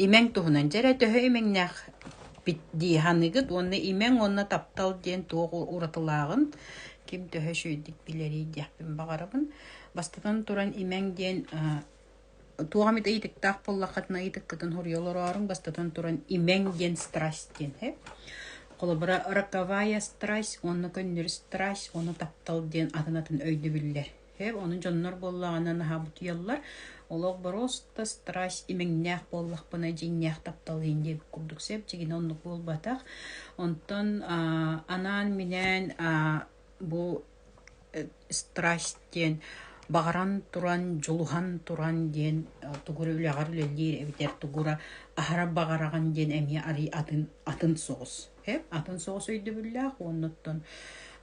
Имэҥ туһунан дьэ эрэ төһө имэҥнээхпит дии саныыгыт уонна имэҥ уонна таптал диэн туох уратылааҕын ким төһө үчүгэйдик билэрий диэхпин баҕарабын. Бастатан туран имэҥ диэн туох эмит ыйытыктаах буоллаххытына ыйытыккытын суруйа олорооруҥ. Бастатан туран имэҥ диэн страсть диэн ээ. Холобура роковая страсть уонна көннөрү страсть уонна таптал диэн атын атын өйдөбүллэр Һэ, ону дьоннор буоллаҕына наһаа бутуйаллар. Олох боруоста страсть имэҥнээх буоллахпына дьиҥнээх тапталыын диэн курдук сэп-дьигинэ оннук буолбатах. Онтон аа анаан-минээн аа бу страсть диэн баҕаран туран, дьулуһан туран диэн тугура үлэҕэр үлэлиир эбэтэр тугура аһара баҕараҕын диэн эмиэ арыый атын атын соҕус. Эп атын соҕус өйдөбүллээх уоннуттан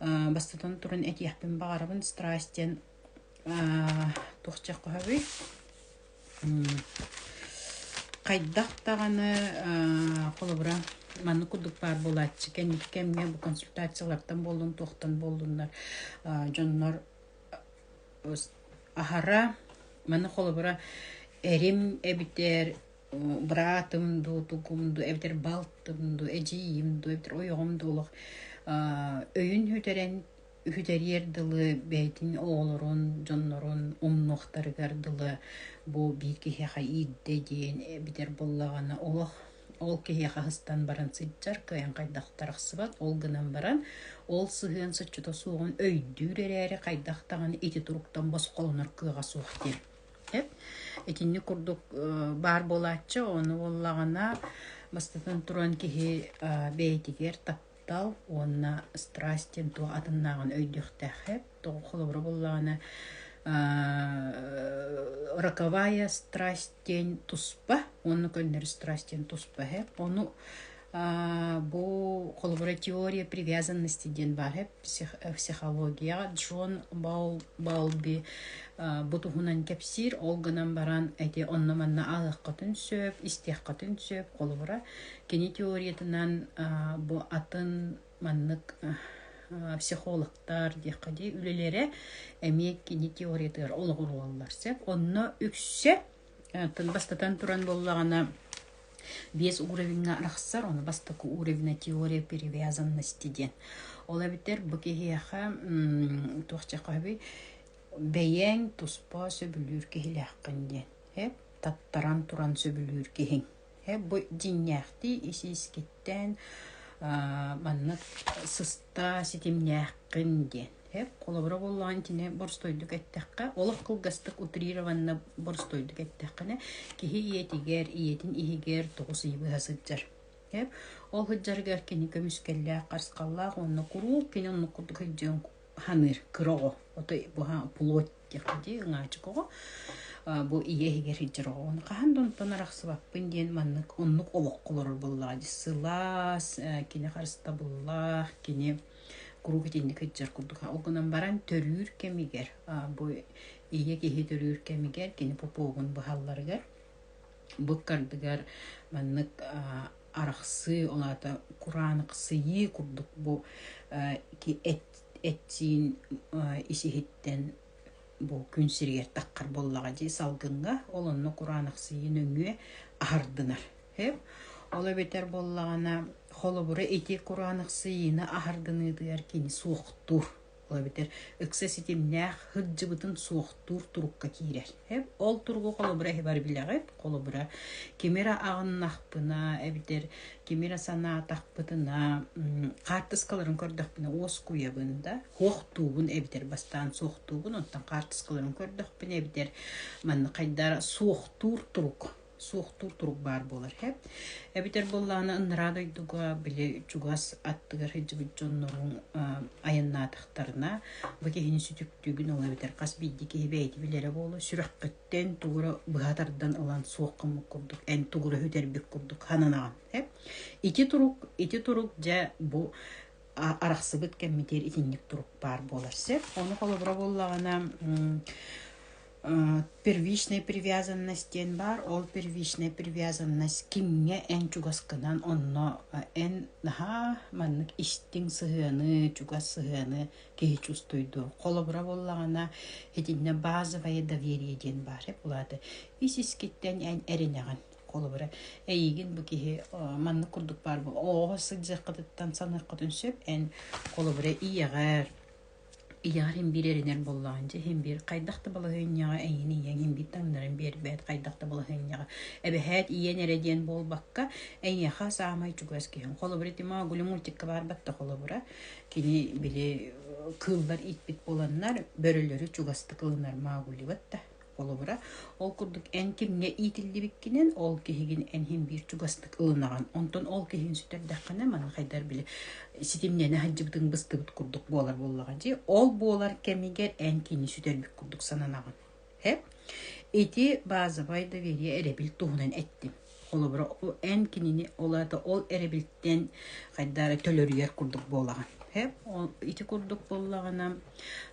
аа, бастатан туран этиэхпин баҕарабын страсть диэн аа, туох чеххоһобуй хайдах даҕаны аа, холобура маннык курдук баар буолааччы кэнники кэмҥэ бу консультациялартан буоллун туохтан буоллуннар аа, дьоннор аһара маны холобура эрим эбитэр быраатым дуу, тукум дуу, эбэтэр балтым дуу, эдьиийим дуу, эбэтэр ойоҕум дуу олох өйүн бүтэрэн үһүтэриэр дылы бэйэтин оҕолорун, дьоннорун умнуохтарыгар дылы бу биир киһиэхэ иирдэ диэн эбэтэр буоллаҕына олох ол киһиэхэ астан баран сылдьар кыайан хайдах тахсыбат ол гынан баран ол сыһыан соччото суоҕун өйдүүр эрээри хайдах даҕаны ити туруктан босхолонор кыаҕа суох диэн Итинник курдук баар буолааччы, ону буоллаҕына, бастатан туран киһи бэйэтигэр таптал уонна страсть диэн туох атыннааҕын өйдүөхтээх эбит. Холобура буоллаҕына, роковая страсть диэн туспа уонна көннөрү страсть диэн туспа эбит. Ону Бу холобура теория привязанности диэн баар психологияҕа Джон Баулби бу туһунан кэпсиир. Ол гынан баран ити онно-манна ааһыаххытын сөп, истиэххитин сөп. Холобура, кини теориятынан бу атын маннык психологтар диэххэ дии үлэлэрэ эмиэ кини теориятыгар олоҕуруллар сөп. Онно үксэ Тын бастатан туран буоллаҕына, биэс уровеҥҥа арахсар, ону бастакы уровена теория привязанности диэн. Ол эбэтэр бу киһиэхэ туох чахаһый бэйэҥ туспа сөбүлүүр киһилээххин диэн. Эп таттаран туран сөбүлүүр киһиҥ. Эп бу дьиҥнээхтии ис-иискиттэн маннык сыста ситимнээххин диэн. Эп холобура буоллаҕын итини боростуойдук эттэххэ, олох кылгастык утрированно боростуойдук эттэххинэ, киһи ийэтигэр, ийэтин иһигэр тоҕус ый быһа сылдьар. Эп ол сылдьарыгар кини көмүскэллээх, харысхаллаах уонна куруук кини оннук курдук сылдьыан саныыр кыра оҕо. Отой буһа плоть диэх дии, ыҥаачык оҕо. Бу ийэ иһигэр сылдьар оҕо. Ону хаһан да онтон арахсыбаппын диэн маннык оннук олоххо олорор буоллаҕа дии. Сылаас, кини харыстабыллаах, кини куруук итинник ыччат курдук ол гынан баран төрүүр кэмигэр бу ийэ киһи төрүүр кэмигэр кини попуогун быһалларыгар быккардыгар маннык арахсыы ол аата кураанахсыйыы курдук бу этиин ис иһиттэн бу күн сиригэр таххар буоллаҕа дии салгыҥҥа ол онно кураанахсыйыы нөҥүө аһардынар ол эбэтэр буоллаҕына холобура ити кураанахсыйыыны аһардыныытыгар кини суохтуур ол эбэтэр ыкса ситимнээх сылдьыбытын суохтуур турукка киирэр ол туругу холобура иһибар билэҕит холобура ким эрэ аҕыннахпына эбэтэр ким эрэ санаатахпытына хаартыскаларын көрдөхпүнэ уоскуйабын да Суох туубун эбитэр бастаан суохтуубун, оттон хаартыскаларын көрдөхпүнэ эбитэр манна хайдара суохтуур турук суохтуур турук баар буолар эб эбитэр буоллаҕына ыныраа дойдуга били чугас аттыгар сылдьыбыт дьоннорун айаннаатахтарына бу киһини сүтүктүүгүн ол эбэтэр хас биирдии киһи бэйэтэ билэрэ буолуо сүрэххиттэн тугура быһа тардан ылан суох гыммыт курдук эн тугура үтэрбит курдук сананаҕын эб ити турук ити турук дьэ бу арахсыбыт кэммитигэр итинник турук баар буолар сөп. Ону холобура буоллаҕына первичная привязанность диэн баар. Ол первичная привязанность кимҥэ эн чугаскынан онно эн наһаа маннык истиҥ сыһыаны, чугас сыһыаны киһи чувствуйду. Холобура буоллаҕына итиннэ базовое доверие диэн баар. Улаата ис искиттэн эн эринэҕин. холобура эйигин бу киһи маннык курдук баар оҕо сылдьыаххытыттан саныаххытын сөп эн холобура ийэҕэр ийэҕэр ин биир эрэнэр буоллаҕын дьэ иһин биир хайдах да балаһыанньаҕа эйин ийэҥ ин биир таҥнарын биэрбэт хайдах да балаһыанньаҕа эбэһээт ийэн эрэ диэн буолбакка эйиэхэ саамай чугас киһиҥ холобура ити магуль мультикка барбатта холобура кини били кыыллар итпит буоланнар бөрөлөрү чугастык ылынар магули батта Холобура, ол курдук эн кимҥэ иитиллибиккинэн ол киһигин эн иһин биир чугастык ылынаҕын. Онтон ол киһин сүтэрдэххинэ маны хайдар били ситимнэни сылдьыбытыҥ быстыбыт курдук буолар буоллаҕа дии. Ол буолар кэмигэр эн кини сүтэрбит курдук сананаҕын. Ити базовай доверие эрэбил туһунан эттим. Холобура, эн кинини ол аата ол эрэбилтэн хайдары төлөрүйэр курдук буолаҕын. Хэп ол ити курдук буоллаҕына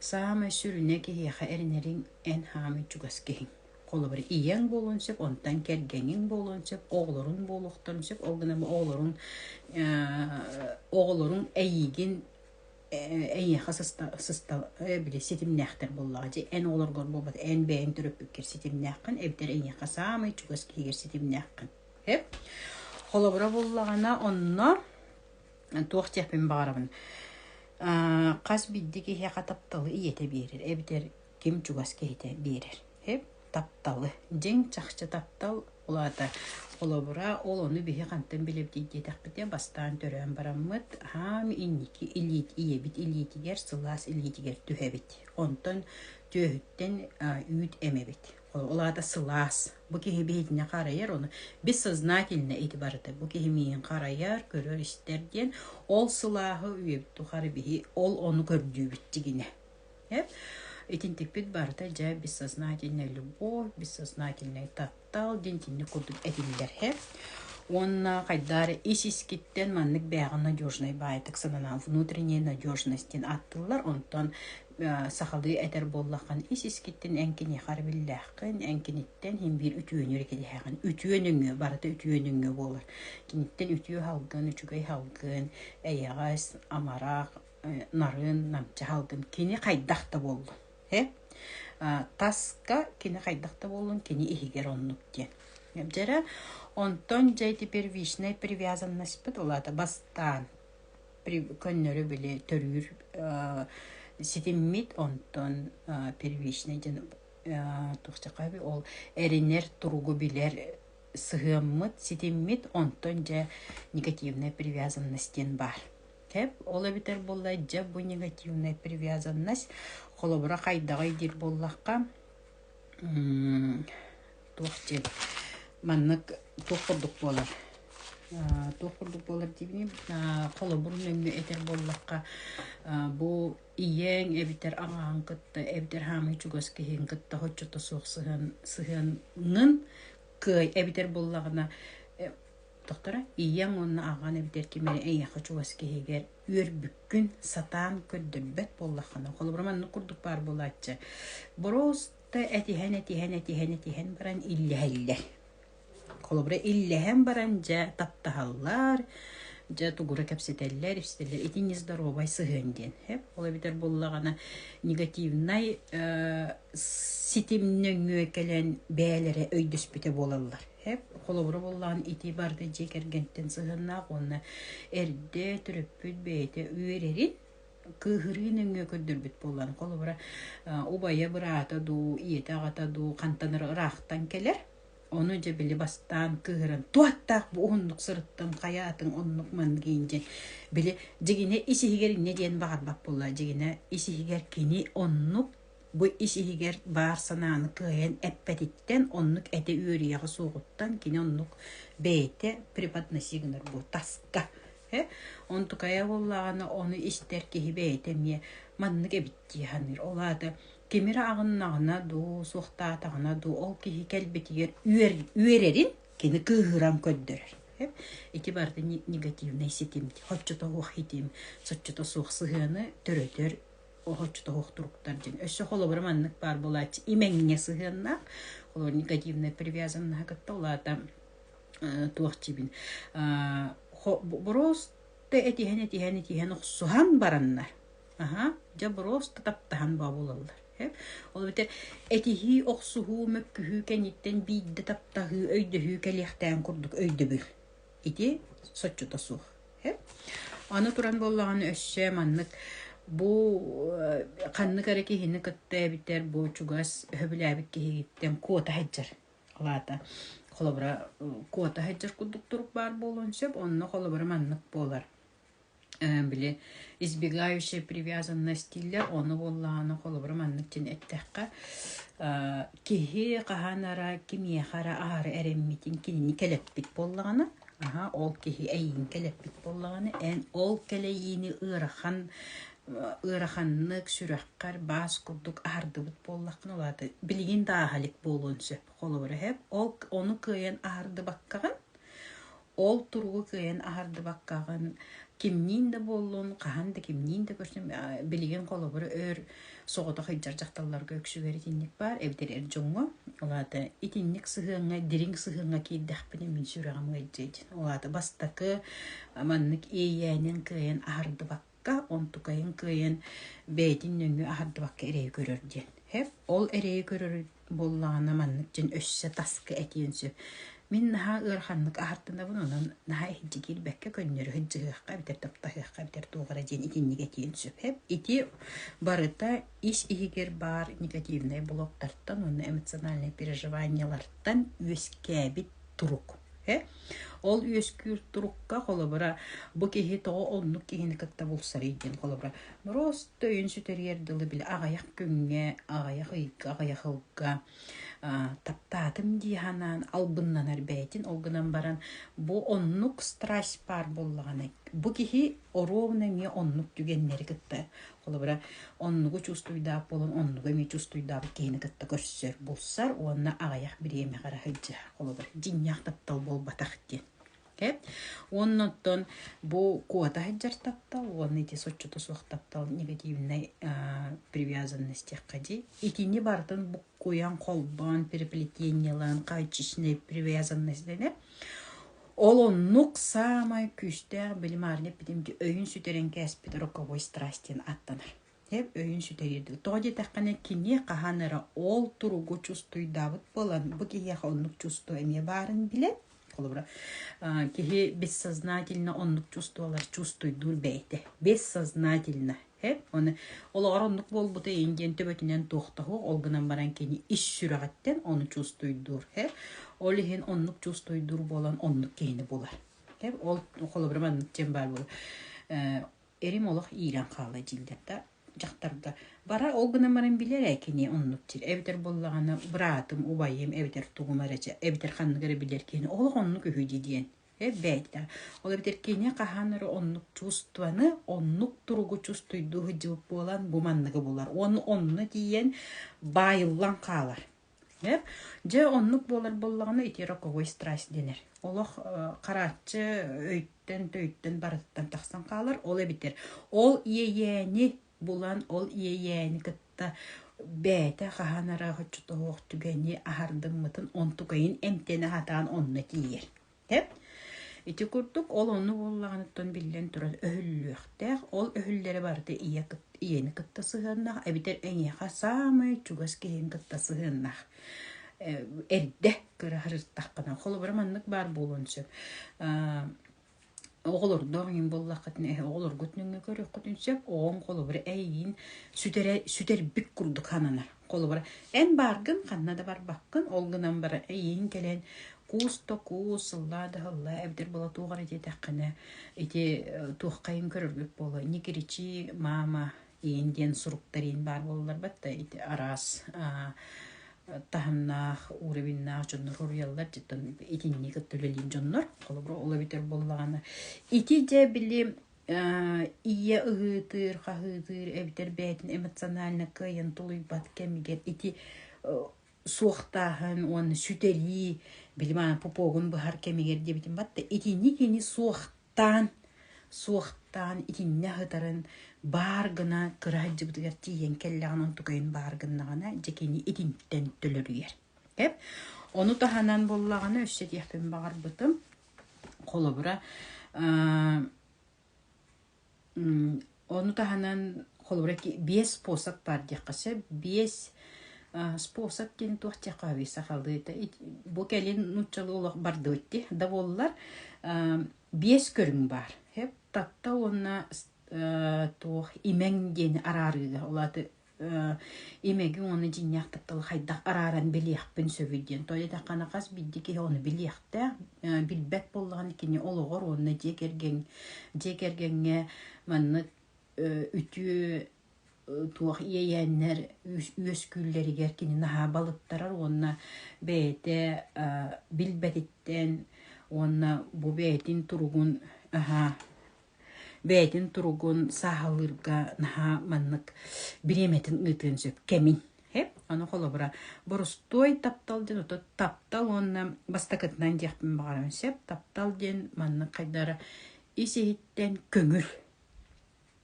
саамай сүрүнэ киһиэхэ эрэнэриҥ эн хаамыы чугас киһиҥ. Холобура, ийэҥ буолуон сөп, онтон кэргэниҥ буолуон сөп, оҕолоруҥ буолуохтарын сөп, ол гынан оҕолоруҥ оҕолоруҥ эйиигин эйиэхэ сыстал били ситимнээхтэр буоллаҕа дьи эн оҕолоргор буолбат эн бэйэҥ төрөппүккэр ситимнээххин эбэтэр эйиэхэ саамай чугас киһигэр ситимнээххин холобура буллаҕына онно туох диэхпин баҕарабын хас бирдэ киһиэхэ тапталы ийэтэ биэрэр эбэтэр ким чугас киһитэ биэрэр. Тапталы. Дьиҥ чахчы таптал улаата. Холобура, ол ону биһи хантан билэбитий диэтэхпитэ, бастаан төрөөн бараммыт, аам инники илиит, ийэбит илиитигэр, сылаас илиитигэр түһэбит. Онтон түөһүттэн үүт эмэбит. Ол аата сылаас. Бу киһи биһитинэ харайар, ону бис сознательно ити барыта. Бу киһи миин харайар, көрөр-истэр диэн, ол сылааһы үйэбит тухары биһи ол ону көрдүүбүт тигинэ. Итин тикпит барыта дьэ бессознательнай любовь, бессознательнай таптал диэн итинник курдук этиллэр иһэ. Уонна хайдары ис-искиттэн маннык бээҕи надежнай баайтык сананаан внутренняя надежность диэн ааттыыллар. Онтон сахалыы этэр буоллаххын ис-искиттин эн киниэхэ эрэбиллээххин, эн киниттэн иһин биир үтүөнү эрэ кэтэһэҕин. Үтүө нөҥүө, барыта үтүө нөҥүө буолар. Киниттэн үтүө салгын, үчүгэй салгын, эйэҕэс, амарах, нарыын, намчы аһалгын кини хайдах да буоллун. Э? таска кини хайдах да буоллун кини иһигэр оннук диэн. Дьэрэ онтон дьэ ити первичнай привязанностьпыт улаата бастаан көннөрү били төрүүр ситиммит онтон первичнай дьэн тухчакаби ол эринер туругу билэр сыһыаммыт ситиммит онтон дьэ негативная привязанность диэн баар Кэп, ол эбэтэр буоллар дьэ бу негативная привязанность. Холобура хайдаҕый диир буоллахха, туох диэн маннык туох курдук буолар туох курдук буолар диибиний холобурун нөҥнө этэр буоллахха бу ийэҥ эбэтэр аҕаҕын кытта эбэтэр хаамыы чугас киһиҥ кытта хоччото суох сыһыан сыһыанын кыай эбэтэр буоллаҕына Тохторо ийэм уонна аҕам эбэтэр ким эрэ эйиэхэ чугас киһигэр үөрбүккүн сатаан көрдөрбөт буоллаххына, холобура маннык курдук баар буолааччы. Просто этиһэн, этиһэн, этиһэн, этиһэн баран иллэһэллэр. Холобура иллэһэн баран дьэ таптаһаллар, дьэ тугура кэпсэтэллэр, истэллэр ити нездоровай сыһыан диэн. Эп ол эбэтэр буоллаҕына негативнай э, ситим нөҥүө кэлэн бээлэрэ өйдөспүтэ буолаллар. Эп холобура буллаҕын итии барыта дьиэ кэргэнтэн сыһыаннаах уонна эрдэ төрөппүт бэйэтэ үөрэрин кыыһырыы нөҥүө көрдөрбүт буоллаҕын холобура убайа быраата дуу ийэтэ аҕата дуу хантанар ыраахтан кэлэр ону дьэ били бастаан кыыһыран туоттаах бу уһуннук сырыттын хайаатын оннук мангиин дьин били дьигинэ ис иһигэр иннэ диэн баҕарбат буолла дьигинэ ис иһигэр кини оннук Бу ис иһигэр баар санааны кыайан эппэтиттэн, оннук этэ үөрүйэҕэ суоҕуттан кини оннук бэйэтэ преподноси гынар буо таска. Э? Онтукая буоллаҕына ону истэр киһи бэйэтэ эмиэ маннык эбит дии саныыр. Ол аата ким эрэ аҕыннаҕына дуу, суохтаатаҕына дуу ол киһи кэлбитигэр үөр, үөрэрин кини кыыһыран көрдөрөр. Э? Ити барыта негативнай ситим. Хоччото суох ситим, соччото суох сыһыаны төрөтөр Охочто туруктар дин өссө холобура маннык баар булааччы имэҥҥэ сыһыаннаах коммуникативная привязаннаха кытта улаата туох жибин бороста этиһэн этиһэн этиһэн охсуһан бараннар аха дьэ бороста таптаһан бабулаллар ол бите этиһии охсуһуу мөккүһүү кэниттэн биирдэ таптаһыы өйдөһүү кэлиэхтээн курдук өйдөбүл ити соччото суох. Аны туран буоллаҕына өссө маннык бу ханнык эрэ киһини кытта эбитэр бу чугас өһөбүлээбит киһигиттэн куота сылдьар. Алаата холобура куота сылдьар курдук турук баар буолуон сөп, онно холобура маннык буолар. били избегающая привязанностийлар ону буоллаҕына холобура маннык диэн эттэххэ киһи хаһан эрэ ким миэхэ эрэ аһары эрэммитин кинини кэлэппит буоллаҕына аһа ол киһи эйиин кэлэппит буоллаҕына эн ол кэлэйиини ыарахан ыараханнык сүрэххэр баас курдук аһардыбыт буоллаххына улаата билигин да аһа илик буолуон сөп холобура ол ону кыайан аһардыбаккаҕын Ол туругу кыайан аһардыбаккаҕын, кимниин да буоллун, хаһан да кимниин да көстөн, э, билигин холобур өр соҕотох илдьэр дьахталларга үксүгэр итинник баар, эбэтэр эр дьоҥҥо. Ол аата итинник сыһыаҥҥа, дириҥ сыһыаҥҥа киирдэхпинэ мин сүрэҕим ыалдьыа дии. Ол аата бастакы маннык иэйээнин кыайан аһардыбакка Та онтукайын кыайан бэйэтин нөҥүө аһардыбакка эрэйи көрөр диэн. Хэп ол эрэйи көрөр буоллаҕына маннык диэн өссө таска этиэн сөп. Мин наһаа ыараханнык аһартынабын онон наһаа иһирдьэ киирбэккэ көннөрү сыдьыһыахха эбэтэр таптаһыахха эбэтэр туох эрэ диэн итинник этиэн сөп. Хэп ити барыта ис иһигэр баар негативнай блоктартан уонна эмоциональнай переживаниелартан үөскээбит турук. Э? Ол үөскүүр турукка холобура бу киһи тоҕо оннук киһини кытта булсарый диэн холобура рост өйүн сүтэриэр дылы били аҕайах күҥҥэ аҕайах ыйга аҕайах ылга таптаатым дии санаан албыннанар бэйэтин ол гынан баран бу оннук страсть баар буоллаҕына бу киһи оруобуна эмиэ оннук түгэннэри кытта холобура оннугу чувствуйдаах буолан оннугу эмиэ чувствуйдаах киһини кытта көрсөр булсар уонна аҕыйах бириэмэ хара сылдьар холобур дьиҥнээх таптал буолбатах диэн Эп. Оннуттан бу куота сылдьар таптал уонна ити соччото суох таптал негативнай привязанность диэххэ итини бартын буккуйан холбоон переплетениелаан хааччичнай привязанность дэнэ Ол оннук саамай күүстээх билимаарня эппитим дии өйүн сүтэрэн кээспит роковой страсть диэн ааттанар. Дьэ өйүн сүтэрии дуу. Тоҕо диэтэххинэ кини хаһан эрэ ол туругу чувствуйдаабыт буолан бу киһиэхэ оннук чувство эмиэ баарын билэн холобура аа, киһи бессознательно оннук чувстволар чувствуйдуур бэйэтэ бессознательно Эп, оны олоҕор оннук буолбута иин диэн төбөтүнэн туохтаһыах, ол гынан баран кини ис сүрэҕиттэн ону чувствуйдуур. Эп, ол иһин оннук чувствуйдуур буолан оннук киһини булар. Эп, ол холобура маннык диэн баар буолар. Э, эрим олох иирэн хаала дьиллэр да дьахтарга бара ол гынан баран билэр ээ кини оннук тир эбэтэр буоллаҕына быраатым убайым эбэтэр тугум эрэ эбэтэр ханнык эрэ билэр киһини олох оннук үһү дии диэн Эбээтэ. Ол эбэтэр кини хаһан эрэ оннук чувствоны, оннук туругу чувствуйдуу сылдьыбыт буолан, бу манныгы булар. Уонна онно тиийэн баайыллан хаалар. Э? Дьэ, оннук буолар буоллаҕына ити роковой страсть дэнэр. Олох харааччы өйтөн, төйтөн барытыттан тахсан хаалар. Ол эбэтэр ол иэйээни булан ол иэйээни кытта бэйэтэ хаһан эрэ оччотооҕу түгэни аһардыммытын онтукайын эмтэнэ сатаан онно тиийэр тэп ити курдук ол онну буоллаҕыныттан биллэн турар өһүллүөхтээх ол өһүллэрэ барыта ийэ ийэни кытта сыһыаннаах эбэтэр эйиэхэ саамай чугас киһин кытта сыһыаннаах эрдэ кыра сырыттаххына холобура маннык баар буолуон сөп Оҕолордоох иҥин буоллаххытына эһэ оҕолоргут нөҥө көрүөххүтүн сөп, оҕоҥ холобура эйигин сүтэрэ сүтэрбит курдук сананар. Холобура эн бааргын ханна да барбаккын, ол гынан баран эйиин кэлэн куус да куус, сыллаа да сыллаа эбэтэр была туох эрэ диэтэххинэ ити туоххайын көрөргүт буолуо, не кричи, мама иин диэн суруктар иин баар буолларбат да ити араас таһымнаах уровеннаах дьоннор хоруйаллар дьиттэн итинни кытта үлэлиир дьоннор холобура ол эбитэр буоллаҕына ити дьэ били ийэ ыһыытыыр хаһыытыыр эбэтэр бэйэтин эмоционально кыайан тулуйбат кэмигэр ити суохтааһын уонна сүтэрии били мана пупогун быһар кэмигэр диэбитим батта итинни кини суох Таан, суохтаан итиннэ сытарын баар гына кыра сылдьыбытыгар тиийэн кэллэҕинэ онтукайын баар гыннаҕына дьэ кини итинтэн төлөрүйэр. Эп ону таһынан буллаҕына өссө диэхпин баҕарбытым холобура Ону таһынан холобура биэс способ баар диэххэ сөп. Биэс способ диэн туох диэххэ уһуй сахалыыта бу кэлин нууччалыы олох бардыбыт дии да буоллар биэс көрүҥ баар таtta уонна туох имэҥ диэни араарыыга ол ааты имэги уону дьиҥнээхтик тыл хайдах арааран билиэхпин сөбүй диэн. Той этаххана хас бидди киһи ону билиэхтээх, билбэт буоллаҕына кини олоҕор уонна дьиэ кэргэн дьиэ кэргэҥҥэ маннык үтүө туох иэйээннэр үөскүүллэригэр кини наһаа балыттарар уонна бэйэтэ билбэтиттэн уонна бу бэйэтин туругун аһаа бэйэтин туругун сааһылыырга наһаа маннык бириэмэтин ыытыан сөп кэмин. Эп, ону холобура борустуой таптал диэн оту таптал уонна бастакытынан диэхпин баҕарам сөп. Таптал диэн маннык хайдара ис-иһиттэн көҥүл.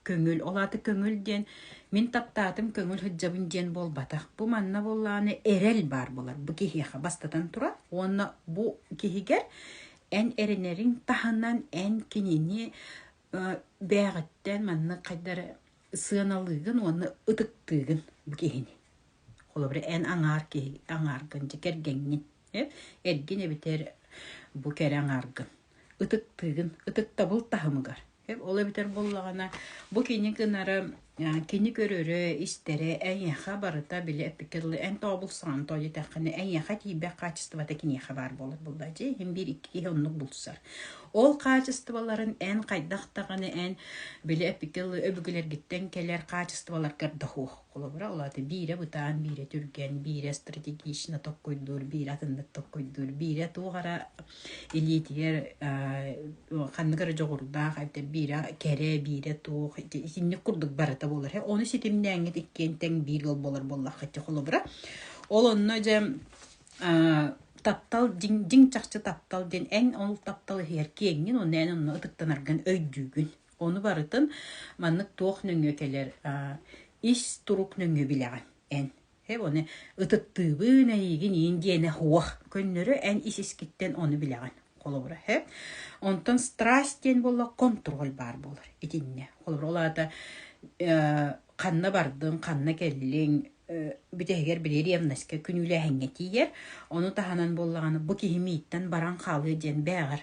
Көҥүл, ол аата көҥүл диэн мин таптаатым көҥүл сылдьабын диэн буолбатах. Бу манна буоллаҕына эрэл баар буолар бу киһиэхэ бастатан турар уонна бу киһигэр эн эрэнэриҥ таһынан эн кинини бээҕиттэн маннык хайдах эрэ сыаналыыгын уонна ытыктыыгын бу киһини. Холобура эн аҥаар киһи аҥааргын дьэ кэргэҥҥин эргин эбэтэр бу кэрэ аҥааргын ытыктыыгын ытыктабыл таһымыгар Ол эбэтэр буоллаҕына, бу кини гынары кини көрөрө, истэрэ эйиэхэ барыта били эппиккэ дылы эн тообулсаҕын тоо диэтэххинэ эйиэхэ тиийбэх хаачыстыбата киниэхэ баар буолар буоллар дии иһин биир икки киһи оннук булсар. Ол хаачыстыбаларын эн хайдах даҕаны эн били эппиккэ дылы өбүгэлэргиттэн кэлэр хаачыстыбаларгар да суох. Холобура, ол аата биирэ бытаан, биирэ түргэн, биирэ стратегично толкуйдуур, биирэ атыннык толкуйдуур, биирэ туох эрэ илиитигэр ханнык эрэ дьоҕурдаах, биирэ кэрэ, биирэ туох, итинник курдук барыта буолар. Ону ситимнээҥҥит иккиэн тэҥ биир ыал буолар буоллаххытча, холобура. Ол онно дьэ таптал дьиҥ, дьиҥ чахчы таптал диэн эн ол таптал иһигэр киэҥҥин, онно эн онно ытыктанаргын өйдүүгүн. Ону барытын маннык туох нөҥүө кэлэр ис турук нөҥүө билэҕин эн. Оны ытыттыыбын эйигин иин диэнэ хуох көннөрө эн ис-искиттэн ону билэҕин холобура һэ. Онтон страсть диэн буолла контроль баар буолар итиннэ. Холобура ол аата ханна бардыҥ, ханна кэллиҥ, бүтэһигэр били ревностька күнүүлээһиҥҥэ тиийэр. Ону таһынан буоллаҕына бу киһи мииттэн баран хаалыа диэн бээҕэр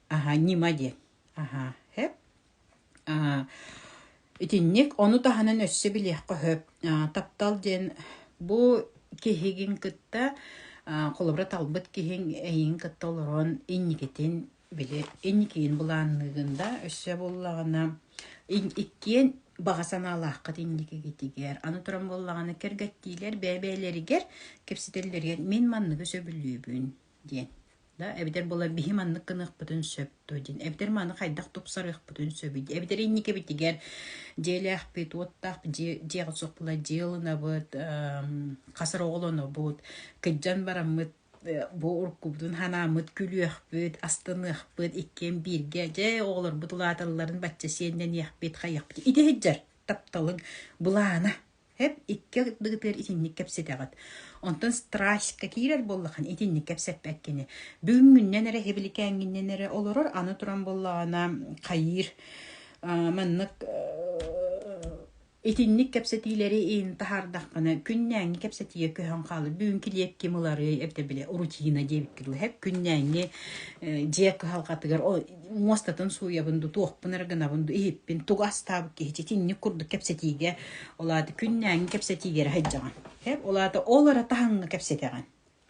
Аһа, ньима диэн. Аһа, хэп. Аа, итинник, ону таһынан өссө билиэххэ сөп. Аа, таптал диэн бу киһигин кытта, аа, холобура талбыт киһиҥ эйиҥ кытта олорон инникитин били инникиин былаанныыгын да өссө буоллаҕына ин- иккиэн баҕа санаалааххыт инникигитигэр аны туран буоллаҕына кэргэттиилэр бэйэ-бэйэлэригэр кэпсэтэллэригэр мин манныгы сөбүлүүбүн диэн. Да, эбэтэр буолар биһи маннык гыныахпытын сөп дуо диэн. Эбэтэр маны хайдах тупсарыахпытын сөбүй? Эбэтэр инникибитигэр дьиэлээхпит, уоттаах дьиэ, дьиэҕит суох буолар дьиэ ылынабыт, хасар оҕолонобут, кыдьан бараммыт бу уруккубутун санааммыт күлүөхпүт, астыныахпыт, иккиэн бииргэ дьэ оҕолорбут улааталларын бачча сиэннэниэхпит, хайыахпыт. Ити сылдьар тапталыҥ былаана. Эп икки ардыгытыгар итинник кэпсэтэҕит. Онтон страстька киирэр буоллахан итинник кэпсэппэт кини. Бүгүҥҥүннэн эрэ иһиликээҥҥиннэн эрэ олорор, аны туран буоллаҕына хайыыр аа, маннык итинник кэпсэтиилэри иин таһаардаххына күннээҥҥи кэпсэтиигэ көһөн хаалар. Бүгүн килиэп ким ыларый, эбэтэр били рутина диэбиккин былаһыак күннээҥҥи дьиэ кыһалҕатыгар ол муостатын сууйабын дуу, туохпун эрэ гынабын дуу, иһиппин тугу астаабыт киһичи итинник курдук кэпсэтиигэ, ол аата күннээҥҥи кэпсэтиигэ эрэ сылдьаҕын. Эп, ол аата ол эрэ таһымҥа кэпсэтэҕин.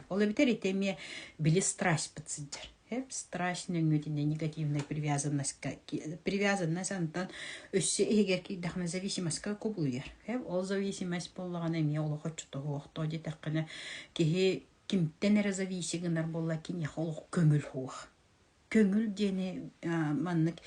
Ол эбэтэр ити эмиэ били страчпыт сылдьар. Эп, страч нөҥүөтүнэн негативнай привязанность, привязанность антан өссө иһигэр киирдэххинэ зависимостка кубулуйар. Эп, ол зависимость буоллаҕына эмиэ олох оччотоҕу охтоо диэтэххинэ киһи кимтэн эрэ зависи гынар буолла киниэхэ олох көҥүл суох. көҥүл диэни маннык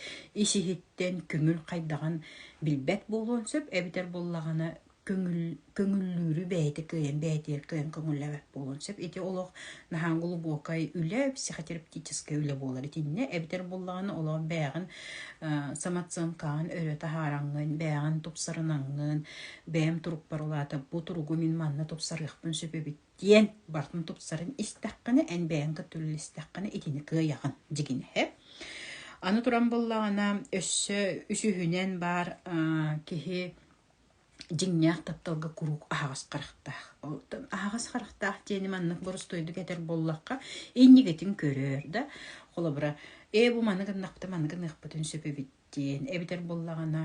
ис-иһиттэн көҥүл хайдаҕын билбэт буолуон сөп эбэтэр буоллаҕына көҥүл көҥүллүүрү бэйэтэ кыайан бэйэтигэр кыайан көҥүллэбэт буолуон сөп ити олох наһаа глубокай үлэ психотерапевтическай үлэ буолар итиннэ эбэтэр буоллаҕына олох бэйэҕин самооценкаҕын өрө таһаараҥҥын бэйэҕин тупсарынаҥҥын бэйэм турукпар улаата бу туругу мин манна тупсарыахпын сөп эбит диэн бартын тупсарын истэххинэ, эн бэйэҥ көтүллэстэххинэ итини кыайаҕын дьигинэһэ. Аны туран буллаҕына, өссө үсүһүнэн баар киһи дьиҥнээх тапталга куруук аһаҕас харахтаах. Оттон аһаҕас харахтаах диэни маннык боростуойдук этэр буоллахха, иннигитин көрөр да, холобура, ээ бу маны гыннахпыта, маны гыныахпытын сөп эбит диэн эбэтэр буоллаҕына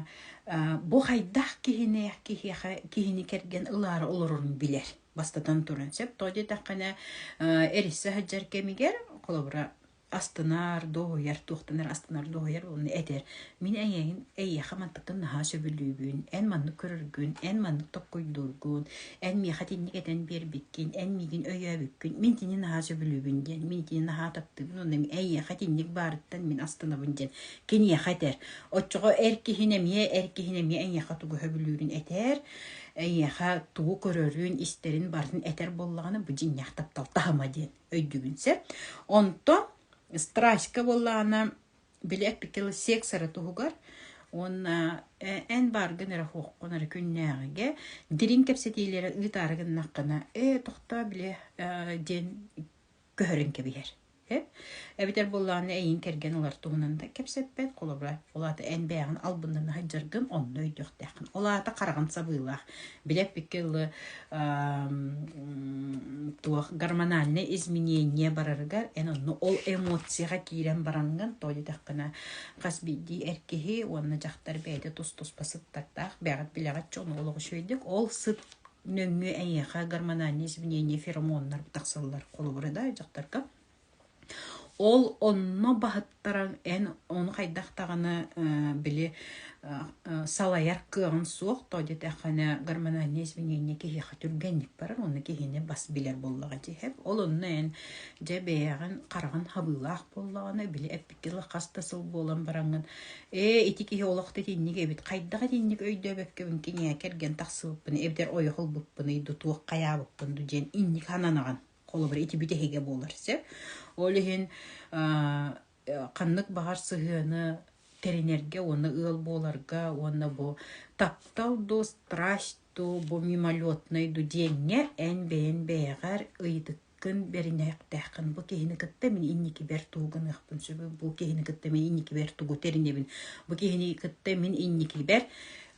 бу хайдах киһини киһиэхэ киһини кэргэн ылаары олорорун билэр бастатан туран сөп тоҕо диэтэххинэ эриссе сылдьар кэмигэр холобура астынар дуоһуйар туохтанар астынар дуоһуйар уонна этэр мин эйэҥ эйиэхэ мантыктан наһаа сөбүлүүбүн эн маннык көрөргүн эн маннык токкойдуургун эн миэхэ итинник этэн биэрбиккин эн миигин өйөөбүккүн мин итини наһаа сөбүлүүбүн диэн мин итини наһаа таптыыбын уонна эйиэхэ итинник баарыттан мин астынабын диэн киниэхэ этэр. Оччоҕо эр киһини эмиэ, эр киһини эмиэ эйиэхэ тугу сөбүлүүрүн этэр, эйиэхэ тугу көрөрүн, истэрин барытын этэр буоллаҕына, бу дьиҥнээх таптал таһыма диэн өйдүүгүн сөп. Онтон страстька буоллаҕына, били эппикил секса эрэ туһугар уонна эн бааргын эрэ оһуоххун эрэ күннээҕигэ дириҥ кэпсэтиилэрэ ыытаары гыннаххына, ээ тохтоо били диэн көһөрөн кэбиһэр. Эбэтэр буоллаҕына эйиин кэргэн ылар туһунан да кэпсэппэт, холобура, ол аата эн бэйэҕин албыннана сылдьаргын онно өйдüөхтээххин. Ол аата хараҕын сабыылаах. Билэппиккэ ылы туох гормональнай изменения барарыгар эн онно ол эмоцияҕа киирэн бараҥҥын то дитэххинэ хас биирдии эр киһи уонна дьахтар бэйэтэ тус-туспа сыттардаах бэҕэт билэҕит чону ол үчүгэйдик ол сыт нөҥүө эйиэхэ гормональнай изменения феромоннар тахсаллар холобура да дьахтарга ол онно баһыттаран эн ону хайдах даҕаны били салайар кыаҕын суох то диэтэххинэ гормональнай изменения киһиэхэ түргэнник барар уонна киһини бас билэр буоллаҕа дии ол онно эн дьэ бэйэҕин хараҕын хабыылаах буоллаҕына били икки сыл хас да сыл буолан бараҥҥын ээ ити киһи олох итинник эбит хайдах итинник өйдөөбөккүбүн киниэ кэргэн тахсыбыппын эбэтэр ойох ылбыппыный дутуох хайаабыппын ду диэн инник сананаҕын холобур ити бүтэһигэ буолар сөп ол иһин ханнык баҕар сыһыаны тэринэргэ уонна ыал буоларга уонна бу таптал дуу страсть Бу мимолетнай дудиэҥҥэ эн бэйэн бэйэҕэр ыйытыккын бэринээхтээххин. Бу киһини кытта мин инникибэр тугу гыныахпын сөбүй? Бу киһини кытта мин инникибэр тугу тэринэбин? Бу киһини кытта мин инникибэр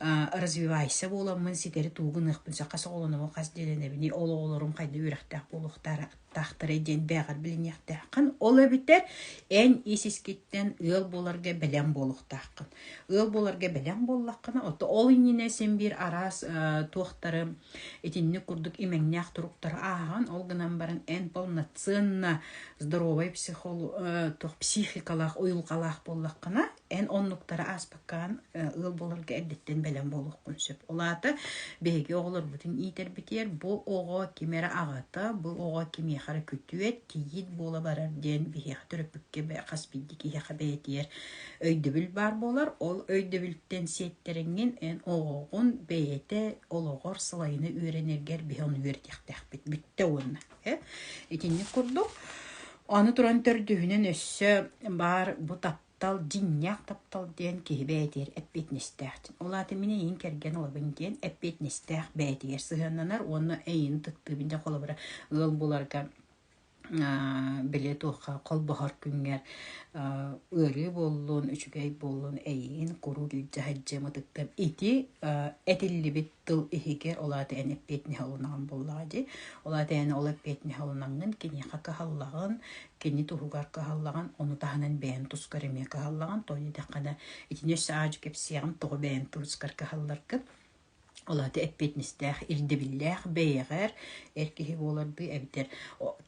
а, развивайся буоламмын ситэри тугу гыныахпын сөп? Хас оҕолонобун, хас дьиэлэнэбиний? Ол оҕолорум хайда үөрэхтээх буолуохтаара? таахтарай диэн бээҕэр билиниэхтээххин. Ол эбэтэр эн ис искиттэн ыал буоларга бэлэм буолуохтааххын. Ыал буоларга бэлэм буоллаххына, ол иннинэ син биир араас туохтары итинник курдук имэҥнээх туруктары ааһан, ол гынан баран эн полноценно здоровый психолог туох психикалаах, уйулҕалаах буоллаххына, эн оннуктары ааспаккаан ыал буоларга эрдэттэн бэлэм буолуоххун сөп. Ол аата биһиги оҕолорбутун иитэрбитигэр бу оҕо ким эрэ аҕата, бу оҕо кимиэхэ эрэ күтүөт, кийиит буола барар диэн биһиэхэ төрөппүккэ хас биирдии киһиэхэ бэйэтигэр өйдөбүл баар буолар. Ол өйдөбүлтэн сиэттэриҥҥин эн оҕоҕун бэйэтэ олоҕор салайына үөрэнэргэр биһи ону үөрэтиэхтээхпит бүттэ уонна итинник курдук аны туран төрдүһүнэн өссө баар бу Тал дьиҥнээх таптал диэн киһи бэйэтигэр эппиэтинэстээх. Ол аата мин эйиин кэргэн олоробун диэн эппиэтинэстээх бэйэтигэр сыһыаннанар уонна эйиин тыктыыбын дьэ холобура ыал буларга били туохха холбоһор күҥҥэр ыарыы буоллун, үчүгэй буоллун эйиин куруук илдьэ сылдьыам ытыктыам ити этиллибит тыл иһигэ ол аата эн эппиэтинэһэ ылынаҕын буоллаҕа дии ол аата эн ол эппиэтинэһэ ылынаҥҥын киниэхэ кыһаллаҕын кини туһугар кыһаллаҕын ону таһынан бэйэм тускар эмиэ кыһаллаҕын тоҕо диэтэххэ да итини өссө аадьы кэпсиэҕим тоҕо бэйэм тускар кыһалларгын ол аата эппиэтинэстээх ирдэбиллээх бэйэҕэр эр киһи буолардыы эбэтэр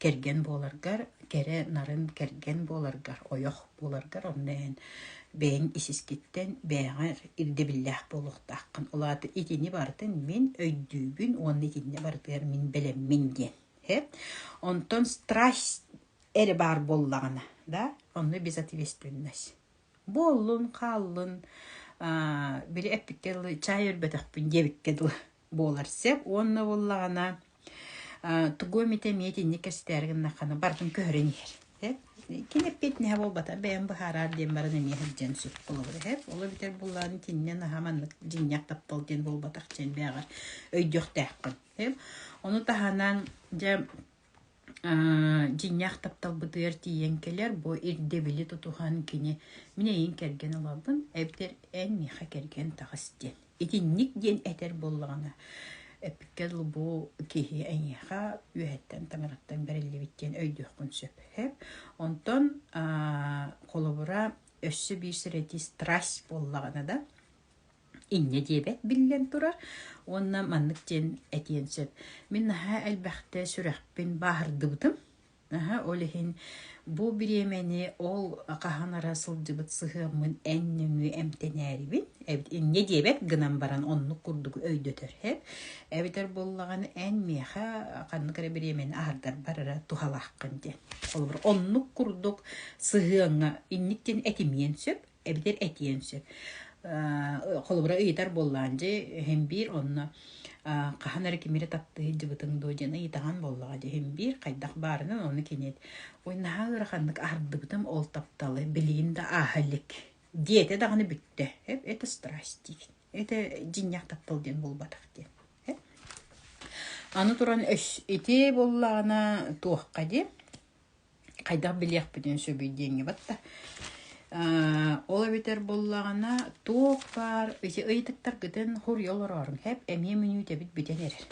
кэргэн буоларгар кэрэ нарын кэргэн буоларгар ойох буоларгар онно эн бэйэҥ исискиттэн бэйэҕэр ирдэбиллээх буолуохтааххын. Ол аата итини барытын мин өйдүүбүн уонна итиннэ барытыгар мин бэлэммин диэн. Онтон страсть эрэ баар буоллаҕына, да, онно безответственность. Буоллун, хааллын, били эппиккэ дылы чаай өрбөтөхпүн диэбиккэ дылы буолар сөп уонна буоллаҕына тугу эмит эмиэ итинник кэстээри гыннаххына барытын көрөн иһэр кини эппиэт нэһэ буолбата бэйэм быһаараар диэн баран эмиэ сылдьыан сөп холобура эһэ ол эбэтэр буллаҕын итиннэн аһа маннык дьиҥнээх таптал диэн буолбатах диэн бэйэҕэр өйдүөхтээххин ону таһынан дьэ дьиҥнээх тапталбытыгар тиийэн кэлэр бу ирдэбили тутуһан кини мин эйиин кэргэн олорбун эбэтэр эн миэхэ кэргэн таҕыс диэн итинник диэн этэр буоллаҕына эпиккэ дылы бу киһи эйиэхэ үөһэттэн таҥараттан бэриллибит диэн өйдүөххүн сөп эб онтон холобура өссө биир сэрэтии страсть буоллаҕына да инньэ диэбэт биллэн турар уонна маннык диэн этиэн сөп. Мин наһаа элбэхтэ сүрэхпин бааһырдыбытым. Наһаа ол иһин бу бириэмэни ол хаһан ара сылдьыбыт сыһыаммын эн нөҥүө эмтэнээрибин. Инньэ диэбэт гынан баран оннук курдук өйдөтөр эб. Эбэтэр буоллаҕына эн миэхэ ханнык эрэ бириэмэни аһардарбар эрэ туһалааххын диэн. Холобур оннук курдук сыһыаҥҥа инник диэн этимиэн сөп эбэтэр этиэн сөп. Холобура ыйытар буоллаан дьэ эһим биир онно хаһан эрэ кимире таптыы сылдьыбытыҥ дуо диэн ыйытаҕан буоллаҕа дьэ эһим биир хайдах баарынан оны кинит ой наһаа ыараханнык ардыбытым ол тапталы билигин да ааһа илик диэтэ даҕаны бүттэ это страсть диэн это дьинньэх таптал диэн буолбатах диэн аны туран ити буллаҕына туохха диэн хайдах билиэхпитин сөбүй диэҥҥибат да ол эбэтэр буоллаҕына туох баар ыйытыктаргытын хоруйа олороорун хэп эмиэ мүнүүтэбит бүтэн эрэр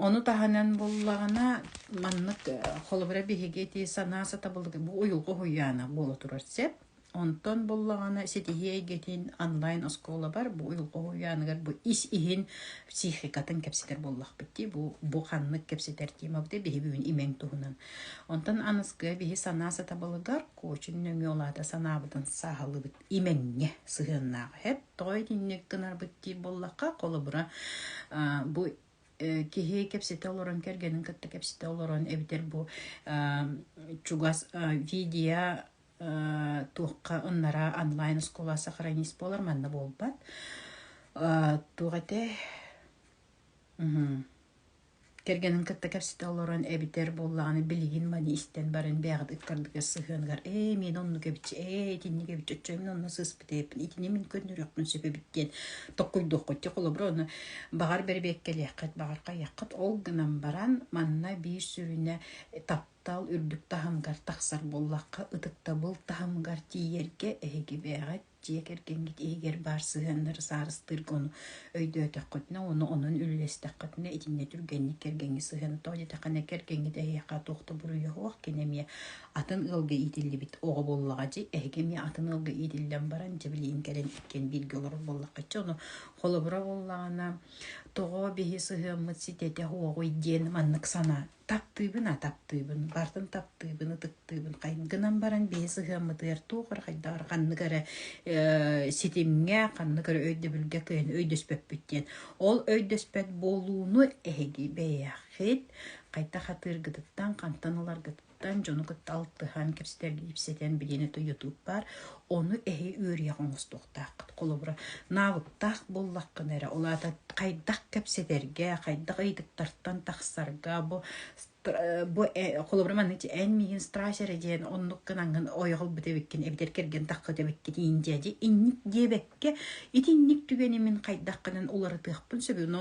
ону таһынан буоллаҕына маннык холобура биһиги ити санаа сатабылга бу уйулҕа уһуйаана буола турар сэп Онтон буллаҕына ситиһии эйгэтин онлайн-оскуолабар бу уйулҕа-уһуйааныгар бу ис иһин психикатын кэпсэтэр буоллахпыт дии. Бу бу ханнык кэпсэтэр диэмэгдэ биһиги бүгүн имэҥ туһунан. Онтон аныскы биһи санаа сатабылыгар Куочин нөҥүө улаата санаабытын сааһылыыбыт имэҥҥэ сыһыаннаах. Эт тоҕо итинник гынарбыт диир буоллахха, холобура, бу киһи кэпсэтэ олорон кэргэнин кытта кэпсэтэ олорон эбэтэр бу чугас видео туохха ыннараа онлайн оскуола сохранись буолар манна буолбат туох этэ кэргэнин кытта кэпсэтэ олорон эбитэр буоллаҕына билигин маны истэн баран бэйэҕит ыккардыгар сыһыаныгар ээ мин онно кэбичи ээ итинни кэбичи оччо мин онно сыыспыт эбиппин итини мин көннөрүөхпүн сөп эбит диэн tokkуйдуоххут дьэ холобура ону баҕар бэрбиэккэлиэххит баҕар хайыаххыт ол гынан баран манна биир сүрүнэ Тал үрдүк таһымыгар тахсар буоллахха, ытыктабыл таһымыгар тиийэргэ эһигибээҕит, дьиэ кэргэҥҥит иһигэр баар сыһыаннары саарыстыырга ону өйдөөтөххүтүнэ, ону онон үллэстэххитинэ, итиннэ түргэнник кэргэҥҥи сыһыаны тоҕо диэтэххинэ, кэргэҥҥит эһиэхэ туох да буруйуох, кини эмиэ атын ыалга иитиллибит оҕо буоллаҕа дии, эһиги эмиэ атын ыалга иитиллэн баран, дьэ билигин кэлэн иккиэн бииргэ олорор буоллаххытча, ону холобура буоллаҕына, тоҕо биһи сыһыаммыт ситэтэх уоҕуй диэн маннык санаан таптыыбын, а таптыыбын, бартын таптыыбын, ытыктыыбын хай гынан баран биһи сыһыаммытыгар туох бары хайдаҕар ханнык эрэ э, ситимҥэ, ханнык эрэ өйдөбүлгэ кыайан өйдөспөппүт диэн. Ол өйдөспөт буолууну эһиги бэйэхит хайдах атыыргытыттан, хантан ыларгытыттан дьону кытта алтыһан, кэпсэтэн, билиэни тойотуур баар. Ону эһи үөрүйэх оҥостуохтааххыт. Холобура, наабыттаах буоллаххына эрэ, ол аата хайдах кэпсэтэргэ, хайдах ыйытыктартан тахсарга бу бу холобура манна эн миигин страсть эрэ диэн оннук гынан ойох ылбыт эбиккин эбэтэр кэргэн таххыт эбиккитиин дьэ дьэ инник диэбэккэ итинник түгэни мин хайдаххынан уларытыахпын сөбү но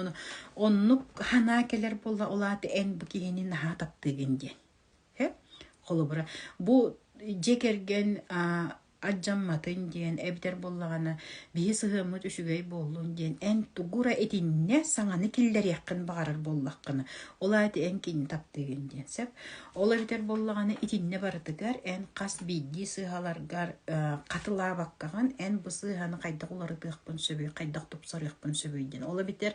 оннук санаа кэлэр буолла ол аата эн бу киһини наһаа таптыыгын диэн Холобура, бу дьиэ кэргэн адьамматын диэн эбэтэр буоллаҕына биһи сыһыаммыт үчүгэй буоллун диэн эн тугура итиннэ саҥаны киллэриэххин баҕарар буоллаххына ол аайы эн кинини таптыыгын диэн сөп ол эбэтэр буоллаҕына итиннэ барытыгар эн хас биирдии сыыһаларгар хатылаабаккаҕын эн бу сыыһаны хайдах уларытыахпын сөбүй хайдах тупсарыахпын сөбүй диэн ол эбэтэр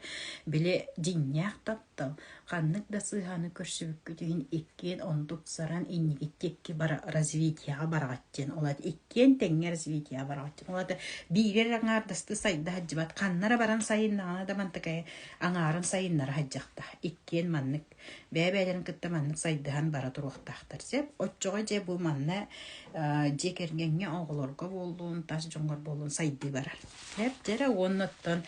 били дьиҥнээх таптал туттал, ханнык да сыыһаны көрсүбүккүт иһин иккиэн онтут саран иннигит икки бара развитияҕа бараҕатчын олат иккиэн тэҥҥэ развитияҕа бараҕатчын олата биирэр аҥаардасты сайда сылдьыбат ханнара баран сайыннаҕына да мантакай аҥаарын сайыннара садьахта иккиэн маннык бэйэ-бэйэлэрин кытта маннык сайдыһан бара туруохтаахтар сөп оччоҕо дьэ бу манна дьиэ кэргэҥҥэ оҕолорго буоллун тас дьоҥҥор буоллун сайдыы барар Бэрт эрэ уоннаттан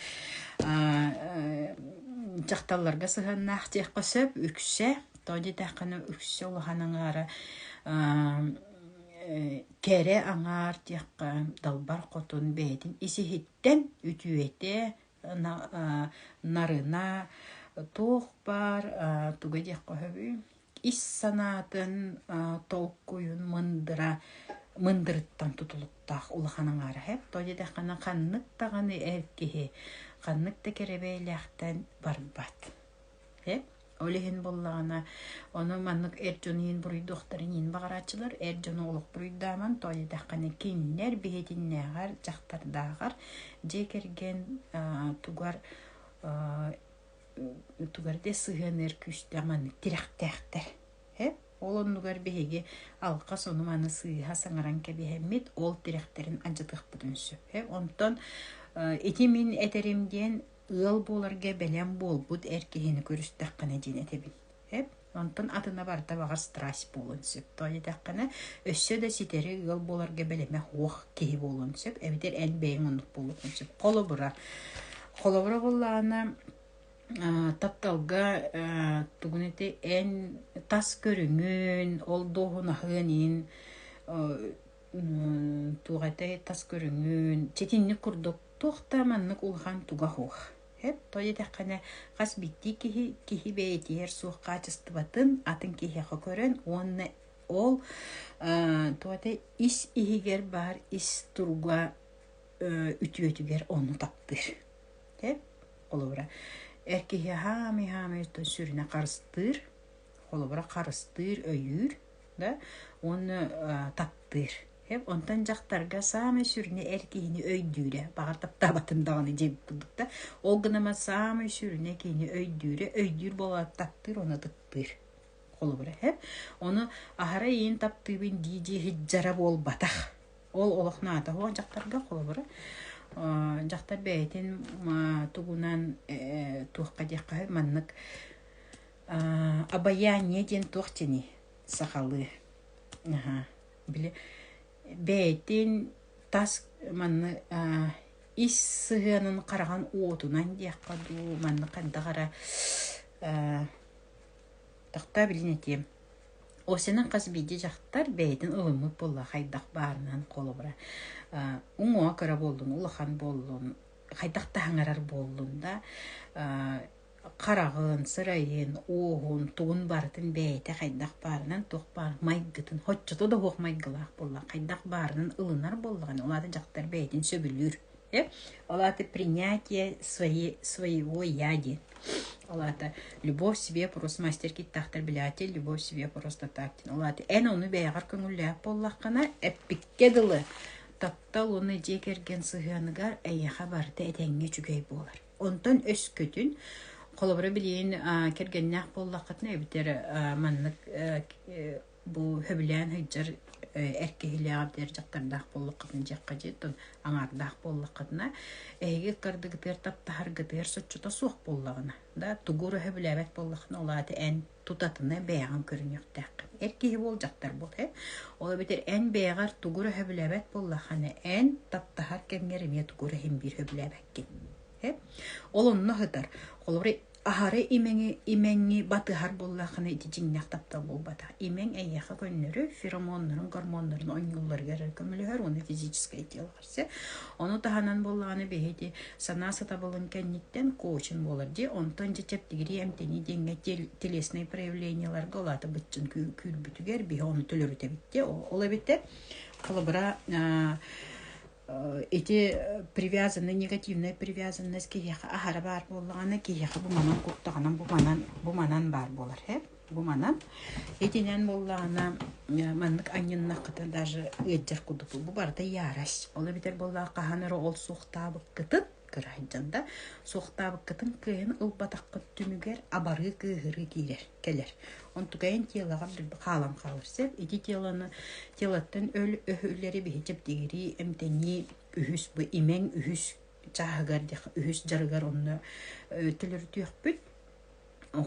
дьахталларга сыһыаннаах диэххэ сөп. Үксэ, тоҕо диэтэххинэ, үксэ улахан аҥаара кэрэ аҥаар диэххэ далбар хотун бэйэтин исиһиттэн үтүөтэ, нарына туох баар туга диэххэ сөбүй ис санаатын, толкуйун мындыра мындырыттан тутулуктаах улахан аҥаараһыт. Тоҕо диэтэххинэ ханнык даҕаны эр киһи ханнык да кэрэбэйэлээхтэн барбат. Э? Ол иһин буоллаҕына ону маннык эр дьон иһин буруйдуохтарын иһин баҕарааччылар. Эр дьону олох буруйдааман. Тоҕо диэтэххинэ кинилэр биһитиннээҕэр, дьахтардааҕар дьиэ кэргэн тугар утугар да сыһыаныар күүстээх маннык тирэхтээхтэр. Э? Ол оннугар биһиги алҕас ону-маны сыыһа саҥаран кэбиһэммит, ол тирэхтэрин адьатыахпытын сөп. Э? Онтон ити мин этэрим диэн ыал буоларга бэлэм буолбут эр киһини көрүстэххинэ диэн этэбин. Эп, онтон атына барыта баҕар страсть буолуон сөп. Тоҕо диэтэххинэ, өссө да ситэри ыал буоларга бэлэмэх уох киһи буолуон сөп, эбэтэр эн бэйэҥ оннук буолуоххун сөп. Холобура, холобура буоллаҕына, а, тапталга а, тугун ити эн тас көрүҥүн, ол дуоһунаһын иһин туох этэй тас көрүҥүн ситинник курдук туох да маннык улахан тугах уох. Сөп, тоҕо диэтэххинэ, хас биирдии киһи киһи бэйэтигэр суох хаачыстыбатын атын киһиэхэ көрөн уонна ол туота ис иһигэр баар ис турба үтүөтүгэр ону таптыыр. Сөп? Холобура, эр киһи хаамай-хаамай сүрүнэ харыстыыр, холобура харыстыыр, өйүүр да уонна таптыыр. Онтон дьахтарга саамай сүрүнэ эр киһини өйдүүрэ. Баҕар таптаабатын даҕаны дьиэ булбут да. Ол гынан саамай сүрүнэ киһини өйдүүрэ. Өйдүүр буолаат таптыыр уонна ытыктыыр. Холобура һэп. Ону аһара иин таптыыбын дии-дии иһдьара буолбатах. Ол олох наада суох дьахтарга холобура. Дьахтар бэйэтин тугунан туохха диэххэ маннык Обаяние диэн туох диэний? Сахалыы. Аһа. Били бэйэтин тас манна ис сыһыанын хараҕын уотунан диэххэ дуу, маннык хайдах эрэ тохтоо билин этиэм. Осяның хас биирдии дьахтар бэйэтин ылыммыт буолла хайдах баарынан холобура уҥуоҕа кыра буоллун улахан буоллун хайдах таһаҥарар буоллун да хараҕын, сырайын, ууһун, тугун барытын бэйэтэ хайдах баарынан, туох баар майгытын, оччото да уһуох майгылаах буолла, хайдах баарынан ылынар буоллаҕына, ол аата дьахтар бэйэтин сөбүлүүр. Э? Ол аата принятие свои, своего я диэн. Ол аата любовь себе просто мастер киттаахтар билээти, любовь себе просто так диэн. Ол аата эн ону бэйэҕэр көҥүллээх буоллаххына, эппиккэ дылы таптал уонна дьиэ кэргэн сыһыаныгар эйиэхэ барыта этэҥҥэ үчүгэй буолар. Онтон өскөтүн холобура билигин кэргэннээх буоллаххытына эбэтэр маннык бу сөбүлээн сылдьар эр киһилээх эбэтэр дьахтардаах буоллаххытына дьиэххэ дьиэттэн аҥаардаах буоллаххытына эһиги ыккардыгытыгар таптаһаргытыгар соччото суох буоллаҕына да тугу эрэ сөбүлээбэт буоллаххына ол аата эн тутатына бэйэҕин көрүнүөхтээххин. Эр киһи буол дьахтар буол э. Ол эбэтэр эн бэйэҕэр тугу эрэ сөбүлээбэт буоллаххына эн таптаһар кэмҥэр эмиэ тугу эрэ иһимбиир сөбүлээбэккин. Э? Ол онно сытар. Холобура аһары имэҥи имэҥи батыһар буоллаххына ити дьиҥнээх таптал буолбата. Имэҥ эйиэхэ көннөрү феромоннарын гормоннарын онньуулларыгар көмөлөһөр уонна физическэй тыалга кэпсэ. Ону таһынан буоллаҕына биһиги санаа сатабылын кэнниттэн коучин буолар дии. Онтон дьэ чэптигирии эмтэнии диэҥҥэ телесный проявлениеларга улаата быччын күүрбүтүгэр биһи ону төлөрүт эбитте. Ол эбитте холобура эти привязанный негативная привязанность киһиэхэ аһара баар буоллаҕына киһиэхэ бу манан куттаҕынан бу манан бу манан баар буолар Бу манан итинэн буллаана маннык анньыннаххыта даже ыалдьар курдук бу барыта ярость. Ол эбэтэр буоллаҕа хаһан эрэ ол суохтаабыккытын кыра сылдьан да суохтаабыккытын кыайан ылбатаххыт түмүгэр абарыы кыыһырыы киирэр кэлэр. Онтукайын тиэлэҕэр хаалан хаалар сөп. Ити тиэланы тиэлэттэн өл өһүлэри биһичэп дигирии эмтэнии үһүс бу имэҥ үһүс чааһыгар үһүс дьарыгар онно төлөрүтүөхпүт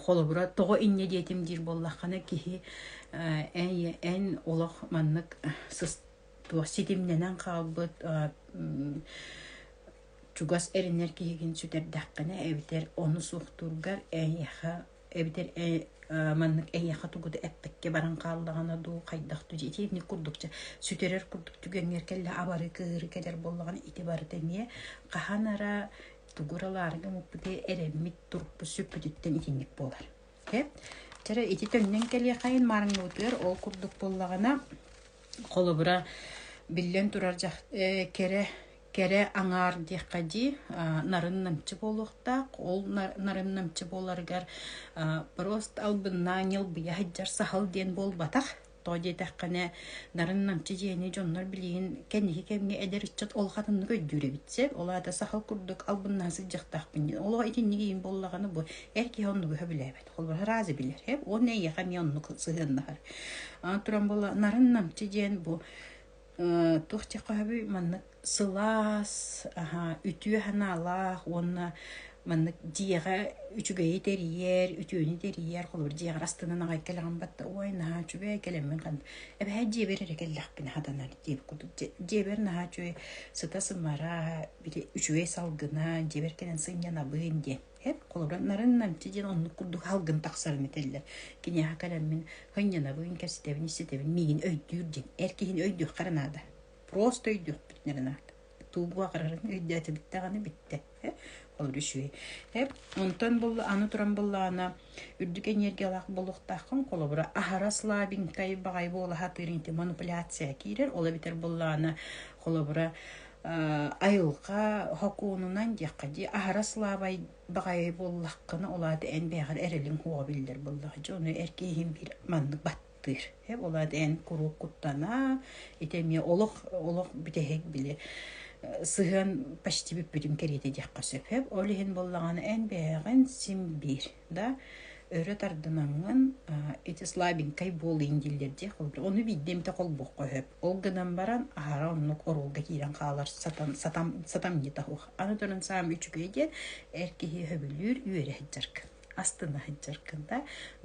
холобура тоҕо инньэ диэтим диир буоллаххына киһи эн эн олох маннык туох ситимнэнэн хаалбыт чугас эрэнэр киһигин сүтэрдэххинэ эбэтэр ону суохтуургар эйиэхэ эбэтэр маннык эйиэхэ тугуду эппэккэ баран хааллаҕына дуу хайдах дуу итиэнник курдук сүтэрэр курдук түгэҥҥэр кэллэ абары кыыры кэлэр буоллаҕына ити барыта эмиэ хаһан ара тугу ыралаары гыммыппытый эрэммит турукпут сүппүтүттэн итинник буолар. Окей? Чара ити төннөн кэлиэхэйин маарыҥмытыгар ол курдук буоллаҕына холобура биллэн турар дьах кэрэ кэрэ аҥаар диэххэ дии нарын намчы буолуохтаах ол нарын намчы буоларыгар просто албыннаан ньылбыйа сахал диэн буолбатах Тоҕо диэтэххинэ, нарын намчы дьиэни дьоннор билигин кэнниһи кэмҥэ эдэр ыччат ол хатаннык өйдүүр эбит. Сөп, ол аата сахал курдук албыннаан сылдьыахтаахпын. Олох итинник иин буоллаҕына бу эр киһи онно быһа билээбэт. Холбоһор разы билэр. Уонна эйиэхэ эмиэ оннук сыһыаннаһар. Туран була нарын намчы диэн бу туох дьахаһабый маннык сылаас үтүө санаалаах уонна маннык дьиэҕэ үчүгэйи тэрийэр үтүөнү тэрийэр холобур дьиэҕэр астынан аҕай кэлэҕин батта ой наһаа үчүгэй кэлэммин ханна эбэһээт дьиэбэр эрэ кэллэхпин хатанар диэбит курдук дьиэбэр наһаа үчүгэй сыта сымара били үчүгэй салгына дьиэбэр кэлэн сынньанабын диэн Эп олорон намчы диэн оннук курдук халгын тахсарын этэллэр. Киниэхэ кэлэммин һынньанабын, кэпсэтэбин, истэтэбин, миигин өйдүүр диэн. Эр киһини өйдүөххэ наада. Просто өйдүөхпүтүнэ гынаат. Туубу аҕарарын өйдөөтө бүттэҕинэ бүттэ. Э? Олор үчүгэй. Эп онтон булла аны туран буллаана үрдүк энергиялаах буолуохтааххын холобура аһарас лабинкай баҕай буола сатыыр ити манипуляция киирэр ол эбитэр буллаана холобура Айылҕа хокуонунан диэххэ дии аһарас лаабай баҕайы буоллаххына ол аата эн бэйэҕэр эрэлиҥ суоҕа биллэр буоллаҕа дьэ ону эр киһим биир маннык баттыыр ээ ол аата эн куруук куттана ити эмиэ олох олох бүтэһик били сыһыан почти бүппүтүн кэриэтэ диэххэ сөп ээ ол иһин буоллаҕына эн бэйэҕин син биир да өрө тардынамҥын ити слабенькай буолуйун дииллэр диэх ону биирдэ эмитэ холбуохха сөп ол гынан баран аһара оннук оруолга киирэн хаалар сатан сатам сатамньыта ух аны туран саам үчүгэй диэн эр киһи сөбүлүүр үөрэ сыдьаркын астына сыдьаркын да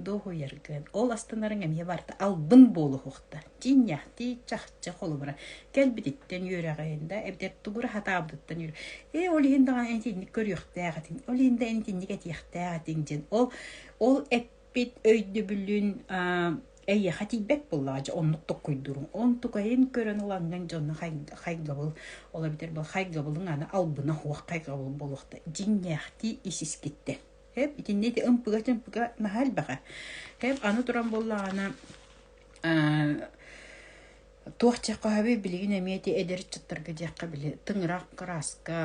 дуоһуйаргын ол астынарыҥ эмиэ барта албын буолуохта Тиинньэхтии чахчы холобура. Кэлбититтэн үөрэҕин да эбэтэр тугура сатаабытыттан үөрэ. Ээ ол иһин даҕаны эн итинник көрүөхтээх этиҥ, ол иһин да эн итинник этиэхтээх этиҥ диэн. Ол ол эппит өйдөбүлүн аа эйиэхэ тиийбэт буоллаҕа дьэ оннук токкуйдуруҥ. Онтукайын көрөн ылаҥҥын дьонно хайгабыл ол эбэтэр бу хайгабылың аны албына суох хайгабыл буолуохта. Дьиҥнээхтии ис-искиттэн. Эп итиннэ ити ымпыга-тымпыга наһаа элбэҕэ. Эп аны туран буоллаҕына Туох дьиэххэ билигин эмиэ ити эдэр ыччаттарга диэххэ били тыҥырах кырааска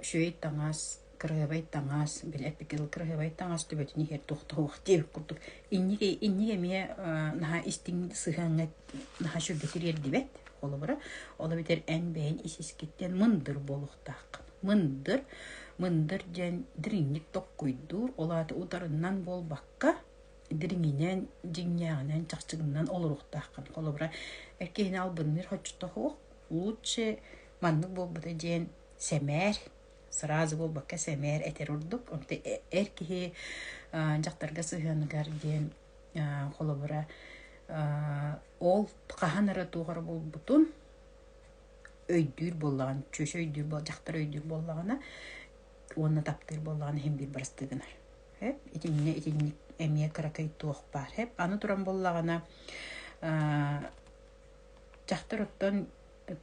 үчүгэй таҥас, кыраһыабай таҥас, били эпикил кыраһыабай таҥас төбөтүн иһэр туохтаах диэбит курдук инники инники эмиэ наһаа истиҥник сыһыаҥҥа наһаа сүргэтик эргибэт холобура ол эбэтэр эн бэйэҥ ис-искиттэн мындыр буолуохтааххын. Мындыр мындыр диэн дириҥник толкуйдуур ол аата утарынан буолбакка дириҥинэн, дьиҥнээҕинэн, чахчыгынан олоруохтааххын. Холобура, эр киһини албынныыр хоччото суох, лучше маннык буолбута диэн сэмээр, сразу буолбакка сэмээр этэр ордук. Онтон эр киһи дьахтарга сыһыаныгар диэн холобура ол хаһан эрэ туох эрэ буолбутун өйдүүр буоллаҕына, чүөчэ өйдүүр буол, дьахтар өйдүүр буоллаҕына, уонна таптыыр буоллаҕына иһин биир бырастыы гынар. Эп, итиннэ итинник эмиэ кыракый туох баар. Эп, аны туран буоллаҕына дьахтар оттон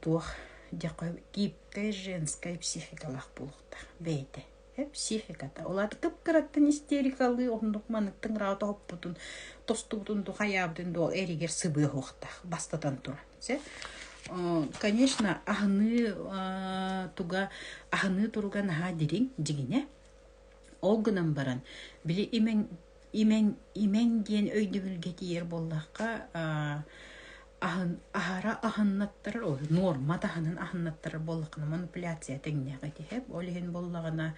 туох дьэхэ гибкая женская психикалаах буолуохтаах бэйэтэ психиката ол аты кып-кыраттан истерикалыы оннук маныктың раата оппутун тостубутун дуу хайаабытын дуу эригэр сыбыахуохтаах бастатан туран Конечно, аһыныы туга аһыныы туруга наһаа дириҥ, дьиҥинэ. Ол гынан баран, били имэҥ имэҥ имэҥ диэн өйдөбүлгэ тиийэр буоллахха, аһын аһара аһыннаттарар, ой нуорма таһынан аһыннаттарар буоллаххына манипуляция тэҥнээх этиһэ. Ол иһин буоллаҕына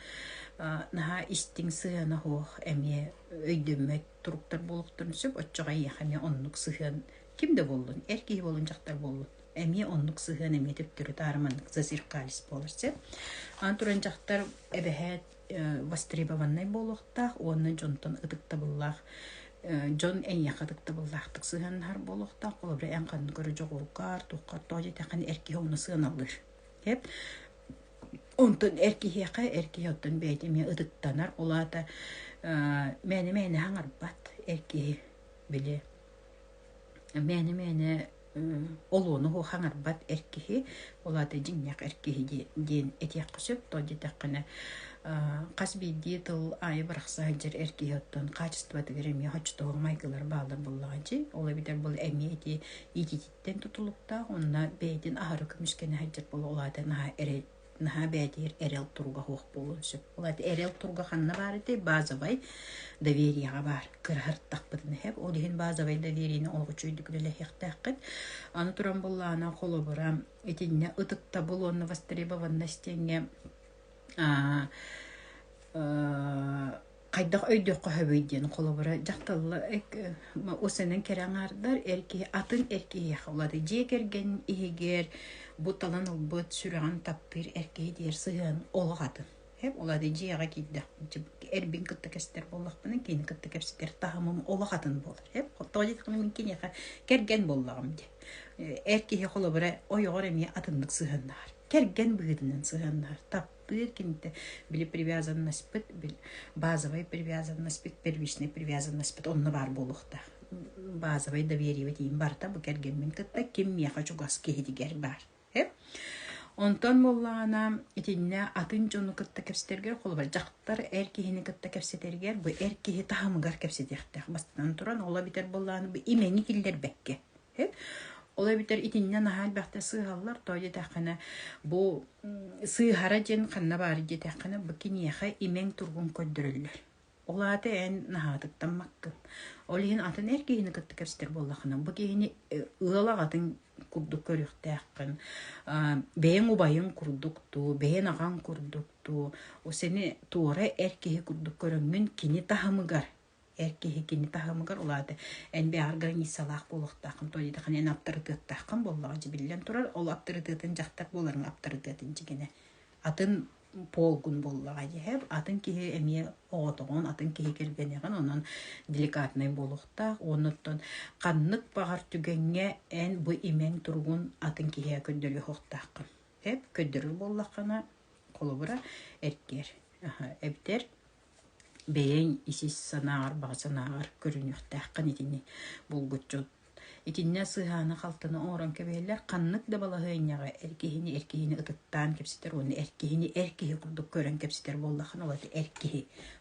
наһаа истиҥ сыһыана суох эмиэ өйдөммөт туруктар буолуохтарын сөп. Оччоҕо эйиэхэ эмиэ оннук сыһыан Ким да буоллун, эр киһи буолун дьахтар буоллун, эмиэ оннук сыһыан эмиэ төптөрү таарыманнык зазеркалис буолар сөп. Аан туран дьахтар эбэһээт востребованнай буолуохтаах уонна дьонтон ытыктабыллаах дьон эйиэхэ ытыктабыллаахтык сыһыаннаһар буолуохтаах холобура эн ханна көрө дьоҕургар туоххар тоҕо диэтэххинэ эр киһи омуну сыаналыыр эп онтон эр киһиэхэ эр киһи оттон бэйэтэ эмиэ ытыктанар ол аата мээнэ мээнэ хаҥарбат эр киһи били мээнэ-мээнэ олуону оһу хаҥарбат эр киһи, ол аата дьиҥнээх эр киһи диэн этиэххэ сөп. Тоҕо диэтэххинэ хас биирдии тыл аайы барахсан сылдьар эр киһи оттон хаачыстыбатыгар эмиэ хочотоҕор майгылара бааллар буоллаҕа дии. Ол эбэтэр бу эмиэ ити иитиититтэн тутулуктаах. Онно бэйэтин аһары көмүскэнэ сылдьар буолуо. Ол аата наһаа эрэ наһаа бээтиир эрэл тургаһуох буолуон сөп. Ол эти эрэл турга ханна баар этэй? Базовай довериеҕа баар. Кыраһартахпытын иһэп. Ол иһин базовай довериені олоҕу чөйдүк үлэлэһиэхтээххит. Аны туран буллаана холобура итиннэ ытыктабыл уонна востребованность диэҥҥэ хайдах өйдүөххэ сөбүй диэн холобура дьахталлар усэнэн кэрэ аҥаардар эр киһи атын эр киһиэхэ улаатар дьиэ кэргэн иһигэр бу талан ылбыт сүрэҕин таптыыр эр киһи диэри сыһыан олох атын улаатар дьиэҕэ киирдэхпинэ эрбин кытта кэстэр буоллахпына киини кытта кэпсэтэр таһымым олох атын буолар тоҕо диэтэххинэ мин киниэхэ кэргэн буоллаҕым дии эр киһи холобура ойоҕор эмиэ атыннык сыһыаннаһар кэргэн быһыытынан сыһыаннаһар тыа кимтэ били привязаннаспыт били базовай привязаннаспыт первичнай привязаннаспыт онно баар буолуохтаах базовай доверие тиийин барыта бу кэргэммин кытта ким миэхэ чугас киһитигэр баар онтон буоллаҕына итиннэ атын дьону кытта кэпсэтэргэр холобур дьахтар эр киһини кытта кэпсэтэригэр бу эр киһи таһымыгар кэпсэтиэхтээх бастатан туран ола бүтэр буоллаҕына бу имэҥи киллэрбэккэ Ол эбэтэр итиннэ наһаа элбэхтэ сыыһаллар, тоҕо диэтэххинэ бу сыыһара диэн ханна баар диэтэххинэ бу киниэхэ имэҥ тургун көрдөрөллөр. Ол аата эн наһаатыктан маккын. Ол иһин атын эр киһини кытта кэбистэр буоллаххына бу киһини ыал аҕатын курдук көрүөхтээххин. Бэйэҥ убайыҥ курдук дуу, бэйэн аҕаҥ курдук дуу, сeni туора эр киһи курдук көрөҥҥүн кини таһымыгар эр киһи кини таһымыгар улаата эн бэҕар границалаах буолуохтааххын то диэтхин эн аптарытыаттааххын буоллаҕа дьэ биллэн турар ол аптарытыатын дьахтар буоларыҥ аптарытыатын дьигинэ атын полгун буоллаҕа дьэһэ атын киһи эмиэ оҕотоҕун атын киһи кэргэниэҕин онон деликатнай буолуохтаах оннуттан ханнык баҕар түгэҥҥэ эн бу имэҥ туругун атын киһиэ көрдөрүөхтааххын эп көрдөрөр буоллаххына холобура эртиэр эбэтэр бэйэҥ ис санааҕар, баҕа санааҕар көрүнүөхтээххин итини булгуччу. Итиннэ сыһааны-халтаны оҥорон кэбиһэллэр. Ханнык да балаһыанньаҕа эр киһини эр киһини ытыктаан кэпсэтэр уонна эр киһини эр киһи курдук көрөн кэпсэтэр буоллаххына, ураты эр киһи,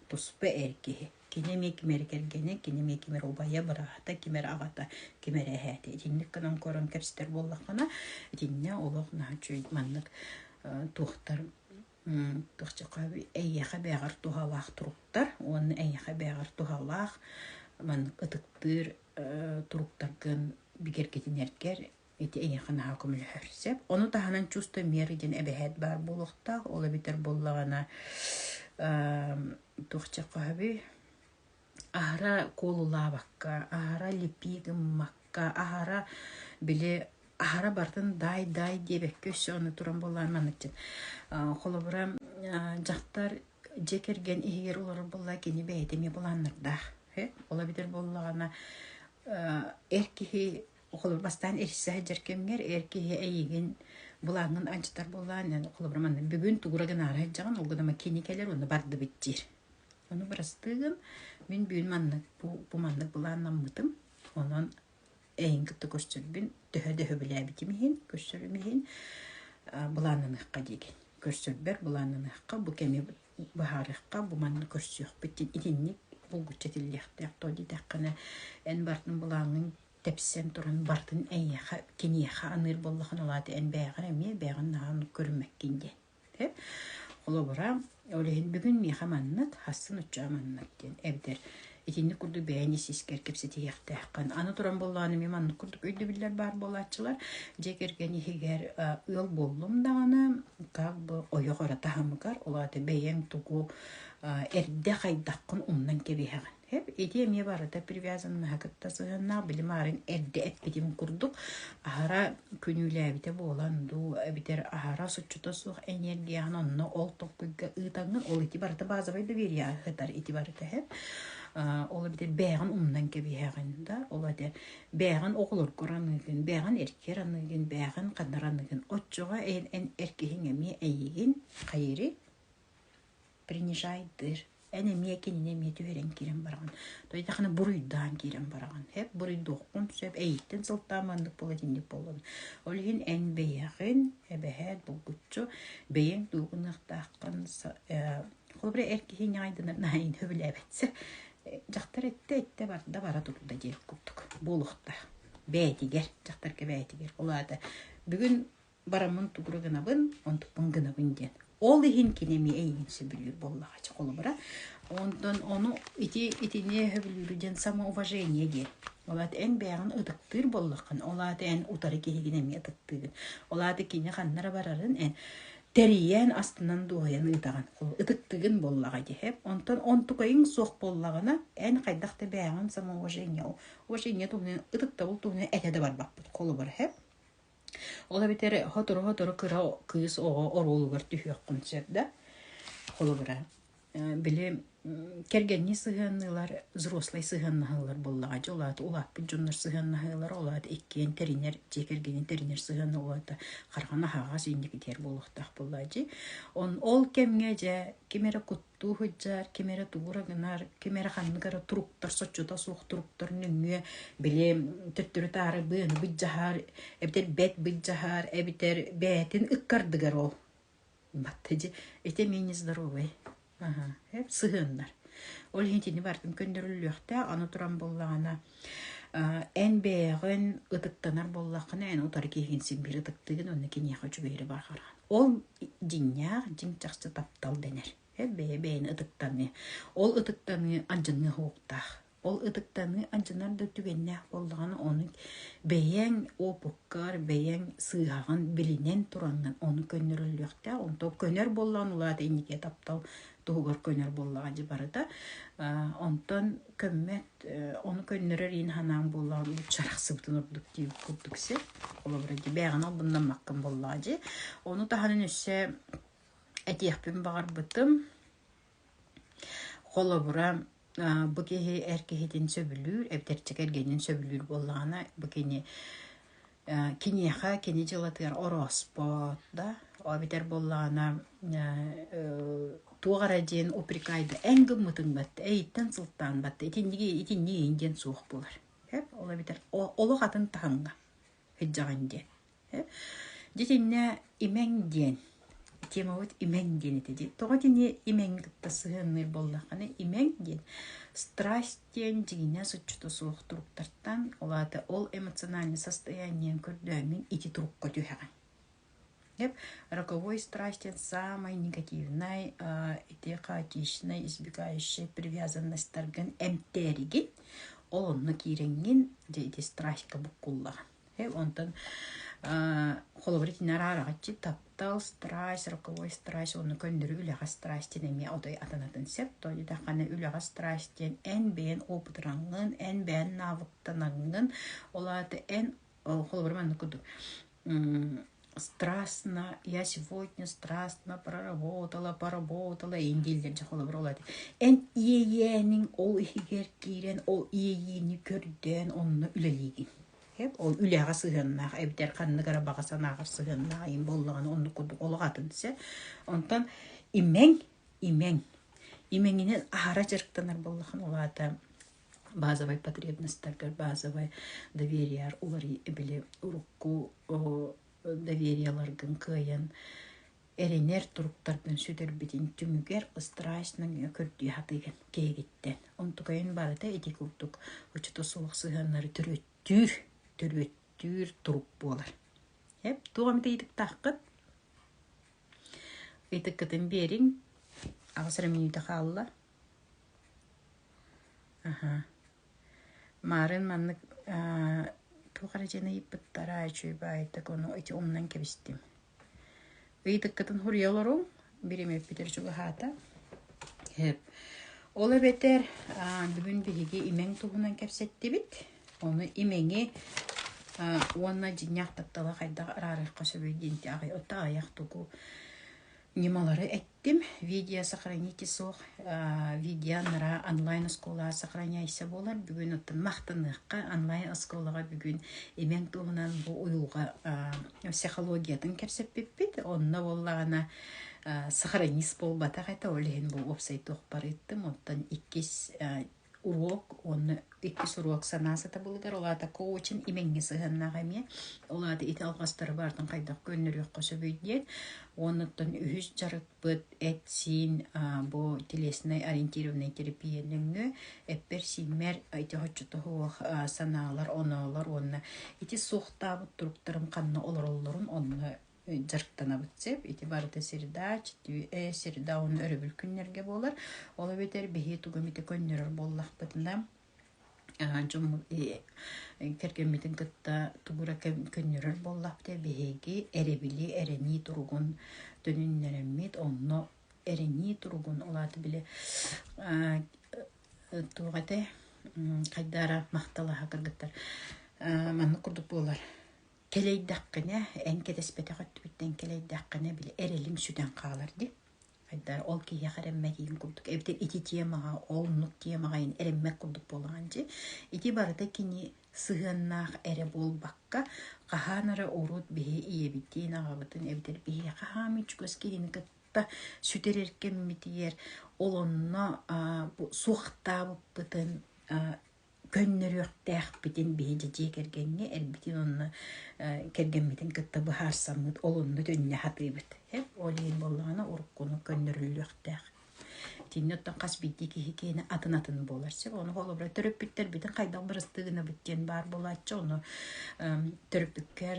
туспа эр киһи. Кини эмиэ кимэрэ кэргэнэ, кини эмиэ кимэрэ убайа, быраата, кимэрэ аҕата, кимэрэ эһээтэ. Итинник гынан көрөн кэпсэтэр буоллаххына, итиннэ олох наһаа үчүгэй маннык туохтар Эйиэхэ бэйэҕэр туһалаах туруктар уонна эйиэхэ бэйэҕэр туһалаах маннык ытыктыыр туруктаргын бигэргэтинэргэр ити эйиэхэ наһаа көмөлөһөр сөп. Ону таһынан чувство меры диэн эбэһээт баар буолуохтаах. Ол эбэтэр буоллаҕына туох чахаһы аһара куолулаабакка, аһара липии гыммакка, аһара били аһара барытын даай-даай диэбэккэ өссө аны туран буоллар маныкчыт холобура дьахтар дьиэ кэргэн иһигэр олорор буоллар кини бэйэтэ эмиэ былааннардаах ээ ол эбэтэр буоллаҕына эр киһи холобур бастаан эрчиллэ сылдьар кэмҥэр эр киһи эйиигин былааҥҥын анчытар буоллаҕына холобура манна бүгүн тугура гынаары сылдьаҕын ол гына кини кэлэр уонна бардыбыт диир Ону бырастыын мин бүт маннык бу маннык былааннаммытым. Онон эйигин кытта көрсөрбүн төһө да сөбүлээбитим иһин, көрсөрүм иһин былааннаныахха диигин. Көрсөрбөр былааннаныахха, бу кэми быһаарыахха, бу манна көрсүөхпүт итинник булгуччу этиллиэхтээх дуо диэтэххинэ эн барытын былааҥҥын тэпсэн туран барытын эйиэхэ киниэхэ аныыр буоллаҕына, ол аата эн бэйэҕин эмиэ бэйэҕин наһаа оннук көрүммэккин диэн. Холобура, ол иһин бүгүн миэхэ маннык, хассын уччаа маннык диэн эбэтэр итинник курдук бэйэни ис-искэр кэпсэтиһиэхтээххин. Аны туран буоллаҕына, эмиэ маннык курдук өйдөбүллэр баар буолааччылар. Дьэ кэргэн иһигэр ыал буоллум даҕаны, как бы ойох эрэ таһымыгар, ол аата бэйэҥ тугу эрдэ хайдаххын умнан кэбиһэҕин. Эп ити эмиэ барыта привязаннаһа кытта сыһыаннаах били маарин эрдэ эппитим курдук аһара күнүүлээбитэ буолан дуу эбэтэр аһара суччута суох энергияҕын онно ол токкуйга ыытаҥҥын ол ити барыта базовай доверие ыһытар ити барыта эп ол эбэтэр бээҕин умнан кэбиһэҕин да ол этэ бээҕин оҕолоргор аныыгын бээҕин эркер аныыгын бээҕин ханнар аныыгын оччоҕо эн эр киһиҥ эмиэ эйигин хайыри принижайдыыр эн эмиэ кинини эмиэ түһэрэн киирэн бараҕын дойдахына буруйдаан киирэн бараҕын эп буруйдуоххун сөп эйиттэн сылтаан маннык буолат инник буоллун ол иһин эн бэйэҕин эбэһээт булгуччу бэйэҥ дуугунахтааххын холобура эр киһи ньаайдынар наайын сөбүлээбэтсэ дьахтар эттэ эттэ барда бара турда диэн курдук буолуохтаах бээтигэр дьахтарга бээтигэр ол аата бүгүн бараммын тугура гынабын, онтукпун гынабын диэн. Ол иһин кини эмиэ эйигин сөбүлүүр буоллаҕа ча холобура. Онтон ону ити итини сөбүлүүрү диэн самоуважение диэн. Ол аата эн бэйэҕин ытыктыыр буоллаххын, ол аата эн утары киһигин эмиэ ытыктыыгын. Ол аата кини ханнара барарын эн тэрийэн, астынан-дуоһуйан ыытаҕын. Ытыктыгын буоллаҕа диһэ. Онтон онтукайың суох буоллаҕына, эн хайдах да бэйэҕин самоуважение, уважение туһунан ытыктабыл туһунан этэ да барбаппыт холобура, Ол эбэтэр сотору-сотору кыра кыыс оҕо оруолугар түһүөххүн сөп да. Холобура, били кэргэннии сыһыанныылар взрослай сыһыаннаһаллар буоллаҕа дии. Ол аата улааппыт дьоннор сыһыаннаһыылара, ол аата иккиэн тэринэр, дьиэ кэргэҥҥин тэринэр сыһыана ол аата хараххын аһаҕас инникитигэр буолуохтаах буоллаҕа дии. Ол кэмҥэ дьэ ким эрэ туу сылдьар, ким эрэ туура гынар, ким эрэ ханнык эрэ туруктар, соччото суох туруктар нөҥүө били төттөрү-таары быаны быдьаһар, эбэтэр бэт быдьаһар, эбэтэр бээтин ыккардыгар ол. Батта дьи, ити эмиэ нездоровый. Аһа, эп сыһыаннар. Ол иһин итини бартын көннөрүллүөхтээх, аны туран буоллаҕына Эн бэйэҕин ытыктанар буоллаххына, эн утары киһигин син-биир ытыктыыгын уонна киниэхэ үчүгэйи барҕарар. Ол дьиҥнээх, дьиҥ чахчы таптал дэнэр. Бэйэ бэйэни ытыктаныы. Ол ытыктаныы алдьаныа уһуктаах. Ол ытыктаныы алдьанар да түгэннээх буоллаҕына, ону бэйэҥ опуккар, бэйэҥ сыыһаҕын билинэн тураҥҥын ону көннөрөллүөхтээх. Онтон көнөр буоллаҕына, улаата инникитэ таптал туһугар көнөр буоллаҕа дии барыта. Онтон көммөт Ону көннөрөр иин ханаан буоллаҕа нуучча арахсыбытын ордук дии курдук сир. Холобура дии бээҕинэ албыннаммаккын буоллаҕа дии. Ону таһынан өссө этиэхпин баҕарбытым. Холобура, бу киһи эр киһитин сөбүлүүр, эбэтэр кэргэнин сөбүлүүр буоллаҕына, бу кини Киниэхэ кини дьылатыгар орооспот да, ол эбэтэр буоллаҕына туох эрэ диэн упрекайда эн гыммытыҥ баттаа, эйиттэн сылтаан баттаа, итинниги итинниги иһин диэн суох буолар. Эп ол эбэтэр олох атын таһымҥа сылдьаҕын диэн. Эп дьэ итиннэ имэҥ диэн темабыт имэҥ диэн этэ дии. Тоҕо итини имэҥҥи кытта сыһыанныыр буоллаххына, имэҥ диэн страсть диэн дьиҥинэс отчута суох туруктартан, ол аата ол эмоциональнай состояниең көрдөөммүн ити турукка түһэҕин. Деп роковой страсть диэн саамай негативнай, ити хаотичнай, избегающай привязанностьтаргын эмтээригин, ол онно киирэҥҥин, дьэ ити страстка буккуллаҕын. Э, онтон холобур итиннэ араараҕаччы таптал страсть роковой страсть оны көннөрү үлэҕэ страсть диэн эмиэ отой атанатын сөп тойу даҕаны үлэҕэ страсть диэн эн бэйэн опытыраҥҥын эн бэйэн навыктанаҥҥын ол аата эн холобур маннык курдук страстно я сегодня страстно проработала поработала ин дииллэр дьэ холобур ол эн иэйээниҥ ол иһигэр киирэн ол иэйиини көрдөөн онно үлэлиигин Ол үлэҕэ сыһыаннаах эбэтэр ханнык эрэ баҕа санааҕар сыһыаннаах ийэм буоллаҕына оннук курдук олох атын сэ. Онтон имэҥ, имэҥ. Имэҥинэн аһара дьарыктанар буоллахан ол аата базовай потребностьтаргар базовай доверияар уларый били урукку довериеларгын кыайан Эрэнэр туруктарбын сүтэрбитин түмүгэр страсть нөҥүө көрдүү сатыыгын киһигиттэн. Онтукайын барыта ити курдук учута суох сыһыаннары төрүттүүр, төрүттүүр турук буолар. Эп, туох эмит ыйытыктааххыт? Ыйытыккытын биэриҥ. Аҕыс эрэ мүнүүтэ хаалла. Аха. Марын маннык туох эрэ дьиэни ыйыппыттара, үчүгэйбээт да куну ити умнан кэбистим. Ыйытыккытын суруйа олоруҥ, бириэмэппитэр чугаһаата. Ол эбэтэр бүгүн биһиги имэҥ туһунан кэпсэттибит. Ону имэҥи уонна дьиҥнээх тапталы хайдах араарыахха сөбүй диэн аҕыйах тугу Ньымалары эттим. Видео сохраните суох, видео анараа онлайн оскуолаҕа сохраняйся буолар. Бүгүн оттон махтаныахха онлайн оскуолаҕа бүгүн имэҥ туһунан бу уйулҕа психологиятын кэпсэппиппит. Онно буоллаҕына сохранист буолбатах этэ, ол иһин бу уопсай туох барыттым. Оттон иккис уруок уонна иккис уруок санаа сатабылыгар ол аатакка очень имэҥҥэ сыһыаннаах эмиэ ол аата ити алҕастары баартан хайдах көннөрүөххэ сөбүй диэн уонуттан үһүс дьарыкпыт эт-сиин бу телеснай ориентированнай терапия нөҥүө эппэр-сииммэр ити оччотоһуох санаалар оноолор уонна ити суохтаабыт туруктарым ханна олороллорун онно дьарыктанабыт сеп ити барыта среда среда уну өрөбүл күннэрге буолар ол эбэтэр биһи тугум ити көннөрөр буоллахпытына дьоммут кэргэммитин кытта тугура көннөрөр буоллахпыта биһиги эребили эрэнии туругун төнүннэрэммит онно эрэнии туругун улааты биле туох ете хайдаара махталаха кыргыттар маннык курдук буолар Кэлэйдэххинэ, эн кэтэспэтэх өттүбүттэн кэлэйдэххинэ били эрэлим сүтэн хаалар дии. Хайдаа ол киһиэхэ эрэммэтиин курдук эбэтэр ити тиэмэҕэ ол муннук тиэмэҕэ ин эрэммэт курдук буолаҕын дии. Ити барыта кини сыһыаннаах эрэ буолбакка, хаһаан эрэ урут биһи ийэбитин, аҕабытын эбэтэр биһиэхэ хаһаам үчүгас киһини кытта сүтэрэр кэммитигэр ол онно аа бу суохтаабыппытын аа көннөрүөхтээхпитин биһиги дьиэ кэргэҥҥэ эрбитин уонна кэргэммитин кытта быһаарсаммыт олунну түннэ сатыыбыт. Ол иһин буоллаҕына уруккуну көннөрүллүөхтээх. Итиннэ оттон хас биирдии киһи киэнэ атын-атын буолар сөп. Ону холобура төрөппүттэр бүтүн хайдах бырастыы гынабыт диэн баар буолааччы. Ону төрөппүккэр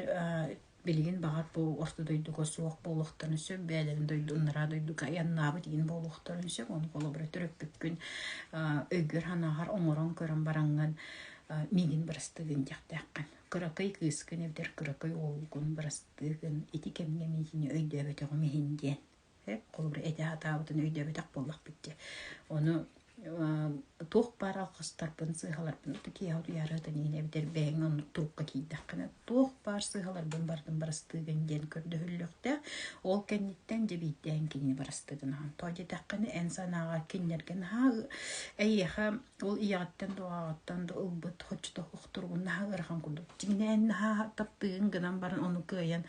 Билигин баҕар бу орто дойдуга суох буолуохтарын сөп, бэйэлэрин дойду Анараа дойдуга айаннаабыт иһин буолуохтарын сөп. Ону холобура төрөппүккүн өйгөр-санааҕар оҥорон көрөн бараҥҥын миигин бырастыыгын диэхтээххин. Кыракый кыыскын, эдэр кыракый уолгун бырастыыгын, ити кэмҥэ миигини өйдөөбөтөҕүм иһин диэн. Эп холобур эдэ сатаабытын өйдөөбөтөх буоллахпыт дии. Ону туох баар алҕастарбын, сыыһаларбын киэһэ утуйаарытын иинэ эбэтэр бэйэҥ оннук турукка киирдэххинэ туох баар сыыһаларбын бардым барастыыгын диэн көрдөһүллүөхтээх. Ол кэнниттэн дьэбийтээн кинини барастыыгын аһан. Тоҕо диэтэххинэ эн санааҕа кинилэргэ наһаа эйиэхэ ол ийэҕиттэн дуоҕаҕыттан да ылбыт хоччотох туругун наһаа ыарахан курдук. Дьиҥинэ эн наһаа таптыыгын гынан баран ону кыайан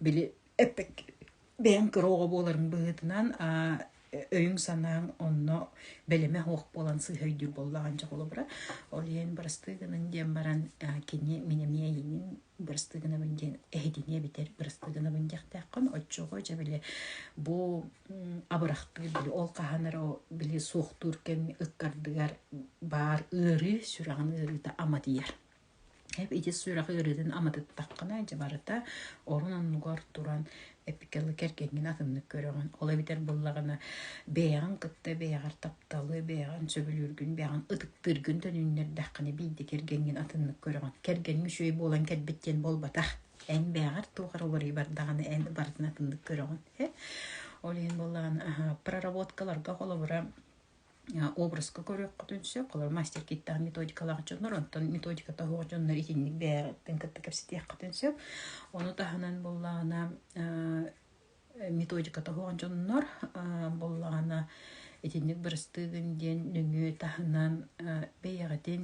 били эппэккин. бэйэҥ кыра оҕо буоларын быһыытынан аа өйүҥ-санааҥ онно бэлэмэ суох буолан сыыһа өйдүүр буоллаҕа анчах холобура. Ол иһин бырастыы гыныҥ диэн баран кини мин эмиэ эйиэнин бырастыы гынабын диэн эһитиниэ бүтэр бырастыы гынабын диэхтээххин оччоҕо дьэ били бу абырахтыыр били ол хаһан эрэ били суохтуур кэми ыккардыгар баар ыарыы сүрэҕин ыарыыта ама тиийэр ис сүрэҕи ыарыытын аматыттаххына дьэ барыта орон оннугар туран эпикалы кэргэҥҥин атыннык көрөҕүн. Ол эбэтэр буоллаҕына бэйэҕин кытта бэйэҕэр тапталы, бэйэҕин сөбүлүүргүн, бэйэҕин ытыктыыргын төнүннэрдэххинэ биирдэ кэргэҥҥин атыннык көрөҕүн. Кэргэҥҥэ үчүгэй буолан кэлбит диэн буолбатах. Эн бэйэҕэр туох эрэ уларыйыы бардаҕына эн барытын атыннык көрөҕүн. Ол иһин буоллаҕына проработкаларга холобура образка көрүөххүтүн сөп. Холобур, мастер-киттаах методикалаах дьоннор, онтон методиката суох дьоннор итинник бэйэҕиттэн кытта кэпсэтиэххитин сөп. Ону таһынан буоллаҕына методиката суох дьоннор буоллаҕына итинник бырастыыгын диэн нөҥүө таһынан бэйэҕитин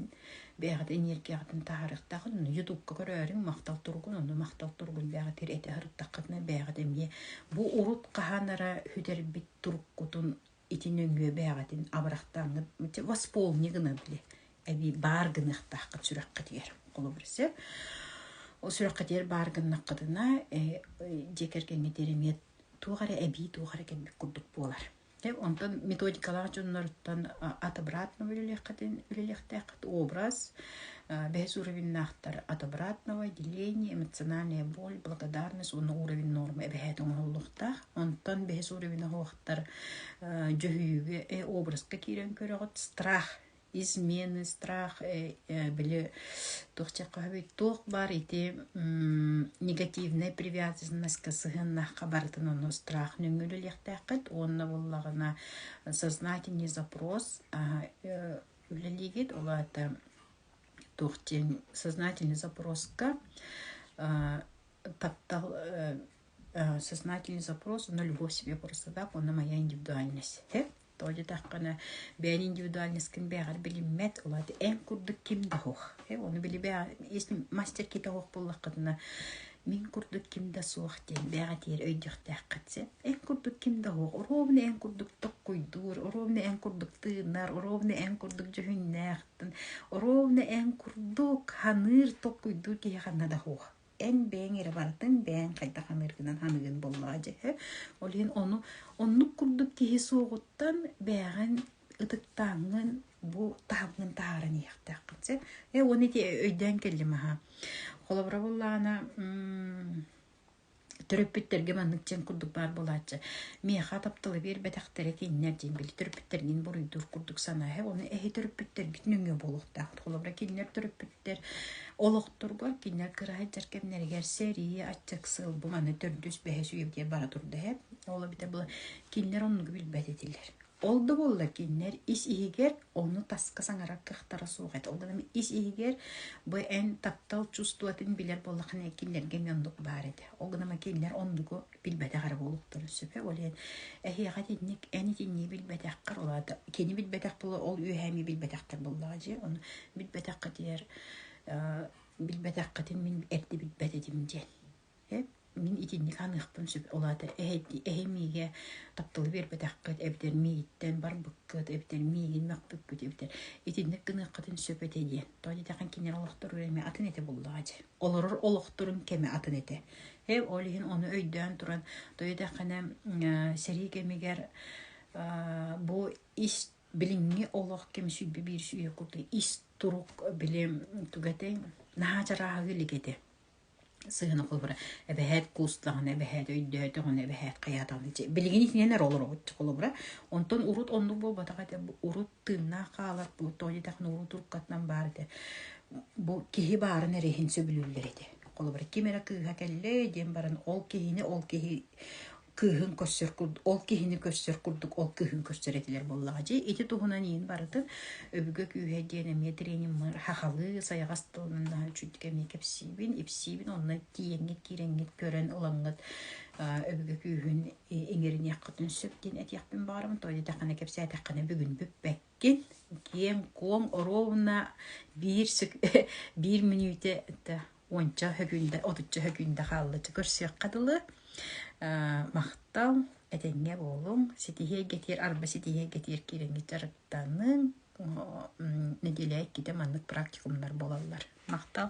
бэйэҕитин энергияҕытын таһаарыахтаахын ону ютубка көрөөрүҥ махтал туругун ону махтал туругун бэҕэтир этэ сырыттаххытына бэйэҕит эмиэ бу урут хаһан эрэ сүтэрбит туруккутун ити нөҥүө бэйэҕитин абырахтааҥҥыт восполни гына били эбии баар гыныахтааххыт сүрэххитигэр холобур сөп ол сүрэххитигэр баар гыннаххытына дьиэ кэргэҥҥит эрэниэт туох эрэ эбии туох эрэ кэммит курдук буолар онтон методикалаах дьонноруттан ат обратно үлэлиэххитин үлэлиэхтээххит образ бэһис уровеннаахтар от обратного деление эмоциональная боль благодарность уонна уровень норма эбэһээтэ оҥоһуллуохтаах Онтон бэһис уровень оһуохтар дьөһүйүүгэ образка киирэн көрөҕүт страх измены страх били туох чаххаһабый туох баар ити негативная привязанностька сыһыаннаахха барытын ону страх нөҥүлүлиэхтээххит уонна буллаҕына сознательный запрос үлэлиигит ол аата туох диэн сознательный запроска таптал сознательный запрос на любовь себе простота уонна моя индивидуальностьта тоҕо диэтэххинэ бэйэҥ индивидуальносткын бэйэҕэр билиммэт ол аата эн курдук ким да оһох ону били если мастер киһитэ оһох буоллаххытына мин курдук ким да суох диэн бэҕэтиэр өйдüөхтээххит син эн курдук ким да оһох оруобуна эн курдук токкуйдуур оруобуна эн курдук тыынар оруобуна эн курдук дьүһүннээх оруобуна эн курдук саныыр токкуйдуур киһи ханна да оһох эн бэйэҥ эрэ барытын бэйэҥ хайдах аныыргынан аныгын буоллаҕа дьэһэ ол иһин ону оннук курдук киһи суоҕуттан бэйэҕин ытыктааҥҥын бу таһымгын таһааран иһиэхтээххин сэ э уону ити өйдөөн кэллим аха холобура буоллаҕына төрөппүттэргэ маннык дьиэн курдук баар буолааччы миэхэ тапталы биэрбэтэхтэрэ кинилэр диэн били төрөппүттэргин буруйдуур курдук санаа ону эһи төрөппүттэргит нөҥүө буолуохтаахыт холобура кинилэр төрөппүт төрөппүттэр олохторго кинилэр кыраайдар кэмнэригэр сэрии, аччык сыл, бу маны төрдүс, бэһис, үев диэн бара турда эб. Ол эбитэ бу кинилэр оннугу билбэт этилэр. Ол да буолла кинилэр ис иһигэр ону таска саҥарар кыахтара суох этэ. Ол гынан ис иһигэр бу эн таптал чувствотын билэр боллахына кинилэргэ оннук баар этэ. Ол гынан кинилэр оннугу билбэтэх эрэ буолуохтара сөпө ол иһин эһиэхэ итинник эн итинниги билбэтэххэр ол аата кини билбэтэх буола ол үөһэ эмиэ билбэтэхтэр буоллаҕа дии ону билбэтэххитигэр билбэтэххитин мин эрдэ билбэт этим диэн э мин итинник саныахпын сөп ол аата эһи миигэ тапталы биэрбэтэххит эбэтэр миигиттэн барбыккыт эбэтэр миигин мөхпүккүт эбэтэр итинник гыныаххытын сөп этэ диэн то диэтэхин кинилэр олохторугар эмиэ атын этэ буоллаҕа дии олорор олохторун кэмэ атын этэ Э, ол иһин ону өйдөөн туран тойотаххына сэрии кэмигэр бу ис билиҥҥи олох кэм сүйбэ биир сүйэ куты ис турук били тугатeng наһаа чарааһыгы лигете сыһына холбура эбэһээт куустаҕына эбэһээт өйдөөтөҕүнэ эбэһээт хайаатаҕына билигин итинен олорбут холобура онтон урут оннук буолбатах этэ урут тыыннаах хаалар бу Тони Технолог туркатынан баар этэ бу киһи баарын эрэ иһин сөбүлүүллэр этэ холобура ким эрэ кыыһа кэллэ диэн баран ол киһини ол киһи кыыһын көрсөр курдук ол киһини көрсөр курдук ол кыыһын көрсөр этилэр буоллаҕа дьи ити туһунан иин барытын өбүгэ күүһэ диэн эмиэ трениуммар хахалыы сайаҕас тылынан чүддү эмиэ кэпсиибин ипсиибин онно тииэҥҥит киирэҥҥит көрөн ылаҥҥыт өбүгэ күүһүн иҥэриниэххитин сөп диэн этиэхпин баҕарабын тоҕо диэтэххинэ кэпсээтэххинэ бүгүн бүппэккин киэҥ-куоҥ оруобуна биир биир мүнүүтэ уонча һөкүүндэ отучча һөкүүндэ хааллычча көрсүөххэ дылы махтал этэҥҥэ буолуҥ ситиһиэй гэтиэр арба ситиһиэй гэтиэр киирэҥҥэ дьарыктаныҥ нэдиэлэ иккитэ маннык практикумнар буолаллар махтал